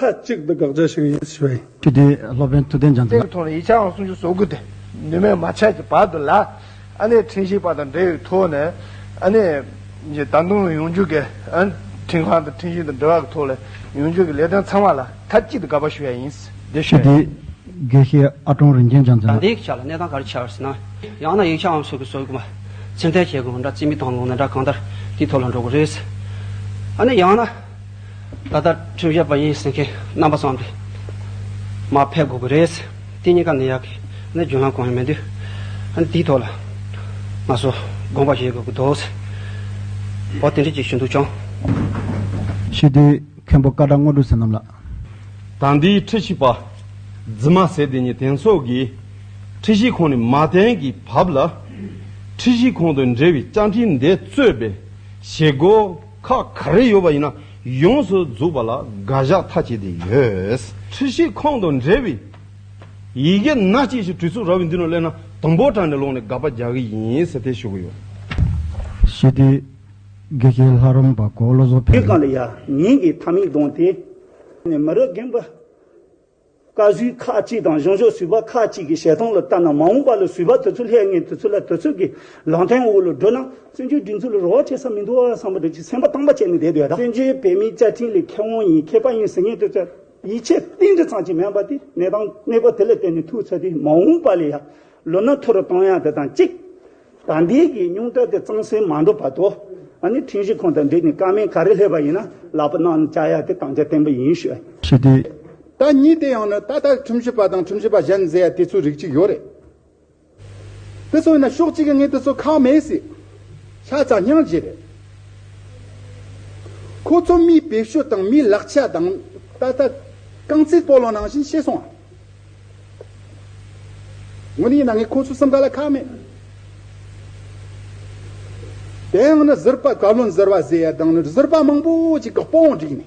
མཐའ་གཅིག་ཏུ་དགག་བྱ་ཞིག་ཡིན་ཞེས་པ་ཡིན། ཁྱེད་ཀྱིས་སློབ་དཔོན་ཐུབ་བསྟན་ལྗང་ཚ་ལ། ཐོག་ནས་ཡིག་ཆའང་སུམ་ཅུ་སོ་དགུ་སྟེ། ནུས་མེད་མ་ཆགས་ཀྱི་བར་དུ་ལ། ཨ་ནེ་ཕྲིན་ཤིང་པ་དང་འབྲེལ་བའི་ཐོག་ནས། ཨ་ནེ། ཀྱི་ད་དུང་ཡོངས་འགྱུར་གྱི། ཁྲིན་ཁང་དང་ཕྲིན་ཤིང་དང་འབྲེལ་བ་གྱི་ཐོག་ལ། ཡོངས་འགྱུར་གྱི་ལས་དོན་ཚང་མ་ལ་མཐའ་གཅིག་ཏུ་དགག་པ་ཞུ་ཡ་ཡིན། འདི་ཁྱེད་ཀྱིས། དགེ་བཤེས་ཨ་ཀྲོང་རིན་ཆེན་ལྗང་ཚ་ལ། ད་ལྟའི་ཡིག་ཆ་ལ་གནས་སྟངས་ག་རེ་འཆར་ཟེར་ན། ཡང་ན་ཡིག་ཆའང་སུམ་ཅུ་སོ་དགུ་མ། ཚིག་མཐའི་ཁྱད་དགོངས་འདྲ་རྩིས་མི་བཏང་ལུང་ན་འདྲ་གང་ལྟར། དེའི་ཐོག་ལ་འགྲོ་དགོས་རེད། ཨ་ནེ་ཡང་ན། ད་ལྟ་ཁྲིམས་ཞབས་པ་ཡིན་ཟེར་མཁན་རྣམ་པ་ཚང་འདི་མ་ཕེབས་དགོས་ཀྱི་རེད། དེ་གཉིས་ཀ་ནི་ཡག་གི་ནི་རྒྱུན་ལམ་གང་ཡང་མི་འདུག་ཨ་འདིའི་ཐོག་ལ་ང་ཚོ་དགོངས་པ་བཞེས་དགོས་ཀྱི་འདུག་ཟེར་བ་དེ་འདྲས་ཅིག་ཞུ་འདུག་བྱུང། ཤི་དུས་མཁན་པོ་བཀའ་དགྲ་དངོས་གྲུབ་ཟེར་རྣམས་ལ། ད་འདིའི་ཁྲི་ཤིས་པ་རྫི་མ་ཟེར་དེ་ཉིད་དེང་སོགས་ཀྱི་ཁྲི་ཤིས་ཁོང་ནི་མ་བསྟན་གྱི་བབ་ལ་ཁྲི་ཤིས་ཁོང་དུ་འབྲེལ་བའི་བཅའ་འཕྲིན་འདི་གཙོས་པའི་བྱེད་སྒོ་ཁག་ག་རེ་ཡོད་པ་ཡིན་ན་ཡོངས་སུ་རྫོགས་པ་ལ་དགག་བཞག་མཐའ་བཅད་དེ་ཡོད། འཁྲིད་གཞིའི་ཁོངས་དང་འབྲེལ་བའི་ཡི་གེ་སྣ་གཅིག་ཞིག་བྲིས་ཚུགས་ར་བའི་མདུན་ན་སླེབས་ན་དང་པོར་དྲངས་ནས་ལོག་ནས་དགག་པ་རྒྱག་གི་ཡིན་ཟེར་ཐལ་ཞུ་གི་ཡོད། ཞི་བདེའི་དགེ་རྒན་ལྷ་རམས་པ་མགོ་བློ་བཟོ་འཕེལ། ཉིན་གང་ལ་ཡང་ཉིན་གྱི་མཐའ་མིག་ལྡོངས་ཏེ། མི་རོ་རྒན་པོ། བཀའ་བརྒྱུད་ཁག་གཅིག་དང་གཞུང་ཕྱོགས་ཟུར་པ་ཁག་གཅིག་གི་བཤད་སྟངས་ལ་ལྟ་ན་མ་འོངས་པ་ལ་ཟུར་པ་དེ་ཚོ་ལྷད་ངན་དེ་ཚོ་ལ་དེ་ཚོ་གི་ལང་ཐེངས་འོག་ལ་བསྒྲོད་ན་བཙན་བྱོལ་སྒྲིག་འཛུགས་ལ་རོགས་བྱེད་ས་མི་འདུག་བསམ་པ་དེ་ཅིག་སེམས་པ་དྭངས་པ་བྱས་ནས་བསྡད་དུས་ཡ་ད། བཙན་བྱོལ་བོད་མིའི་བཅའ་ཁྲིམས་ལས་ཁེ་དབང་ཡིན་མཁས་པ་ཡིན་ཟེར་ངེས་དེ་ཚོས་ཡིད་ཆེས་གཏིང་འདྲི་ཚང་ཅིག་མེད་པ་དེ་གནས་སྟངས་གནས་སྐོར་དེ་ལ་བརྟེན་ནས་ཐུགས་ཚད་དེ་མ་འོངས་པ་ལ་ཡ་ལོ་ན་མཐོ་རུ་གཏོང་ཡ་དེ་དང་གཅིག། ད་འདས་ཀྱི་སྙུང་གྲ་དེ་གཙང་སེལ་མ་འགྲོ་བར་དུ། ཨ་ནི་ཁྲིན་ཞི་ཁོང་དང་འབྲེལ་ནས་སྐར་མའི་ག་རེ་སླེབས་པ་ཡིན་ན་ལག་པ་གནང་བཅའ་ཡ་དེ་དང་ཆ་བརྟན་པོ་ཡིན་ཤོད། ཞི་བདེ། ད་ཉིད་དེ་ཡང་ནི་ད་ལྟ་ཁྲིམས་ཞིབ་པ་དང་ཁྲིམས་ཞིབ་པ་གཞན་མཛད་ཡ་དེ་ཚོའི་རིགས་གཅིག་ཡོད་རེད། དེ་ཚོ་ཡིན་ན་ཕྱོགས་གཅིག་གི་ངས་དེ་ཚོ་ཁག་མེད་སྲིད། ཤ་ཚ་སྙང་རྗེ་རེད། ཁོ་ཚོ་མིའི་བེད་སྤྱོད་དང་མིའི་ལག་ཆ་དང། ད་ལྟ། རྐང་རྩེད་སྤོ་ལོ་ནང་བཞིན་ཤེས་སོང་ཨ། ངོ་ནི་ཡིན་ན་ངས་ཁོ་ཚོའི་སེམས་ཁ་ལ་ཁག་མེད། དེ་ཡང་ནི་གཟིར་པ་བཀའ་བློན་ཟེར་བ་ཟེར་ཡ་དང་ནི་གཟིར་པ་མང་པོ་ཅིག་གི་དཔུང་བསྒྲིགས་ནས།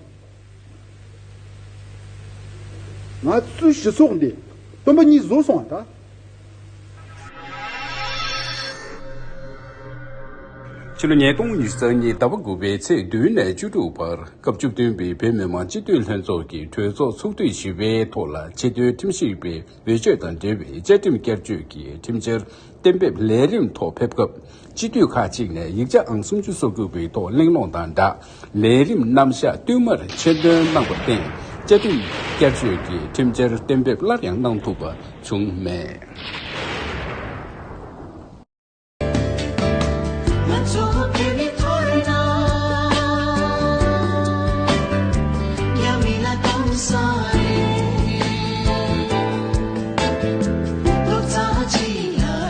ང་ཚོའི་སྤྱི་ཚོགས་འདི་དུམ་བུ་གཉིས་བཟོས་སོང་བ་དང་ཕྱི་ལོ་ཉིས་སྟོང་ཉིས་སྟོང་ཉིས་ཟླ་བ་དགུ་པའི་ཚེས་བདུན་ནས་བཅུ་དྲུག་བར་སྐབས་བཅུ་བདུན་པའི་བོད་མི་མང་སྤྱི་འཐུས་ལྷན་ཚོགས་ཀྱི་གྲོས་ཚོགས་ཚོགས་དུས་བཞི་པའི་ཐོག་ལ་ཆེད་དོན་ཁྲིམས་ཞིབ་པའི་འོས་ཆོས་དང་འབྲེལ་བའི་བཅའ་ཁྲིམས་བསྐྱར་བཅོས་ཀྱི་ཁྲིམས་འཆར་གཏན་འབེབས་ལས་རིམ་ཐོག་ཕེབས་སྐབས། སྤྱི་འཐུས་ཁག་ཅིག་ནས་ཡིག་ཆ་ཨང་སུམ་ཅུ་སོ་དགུ་པའི་ཐོག་གླེང་སློང་དང་སྦྲགས་ལས་རིམ་རྣམ་གཞག་བསྟུད་མར་ཆེད་འདོན་གནང་པར་བརྟེན་བཅའ་ཁྲིམས་བསྐྱར་བཅོས་ཀྱི་ཁྲིམས་འཆར་གཏན་འབེབས་སླར་ཡང་གནང་ཐུབ་པ་བྱུང་མེད།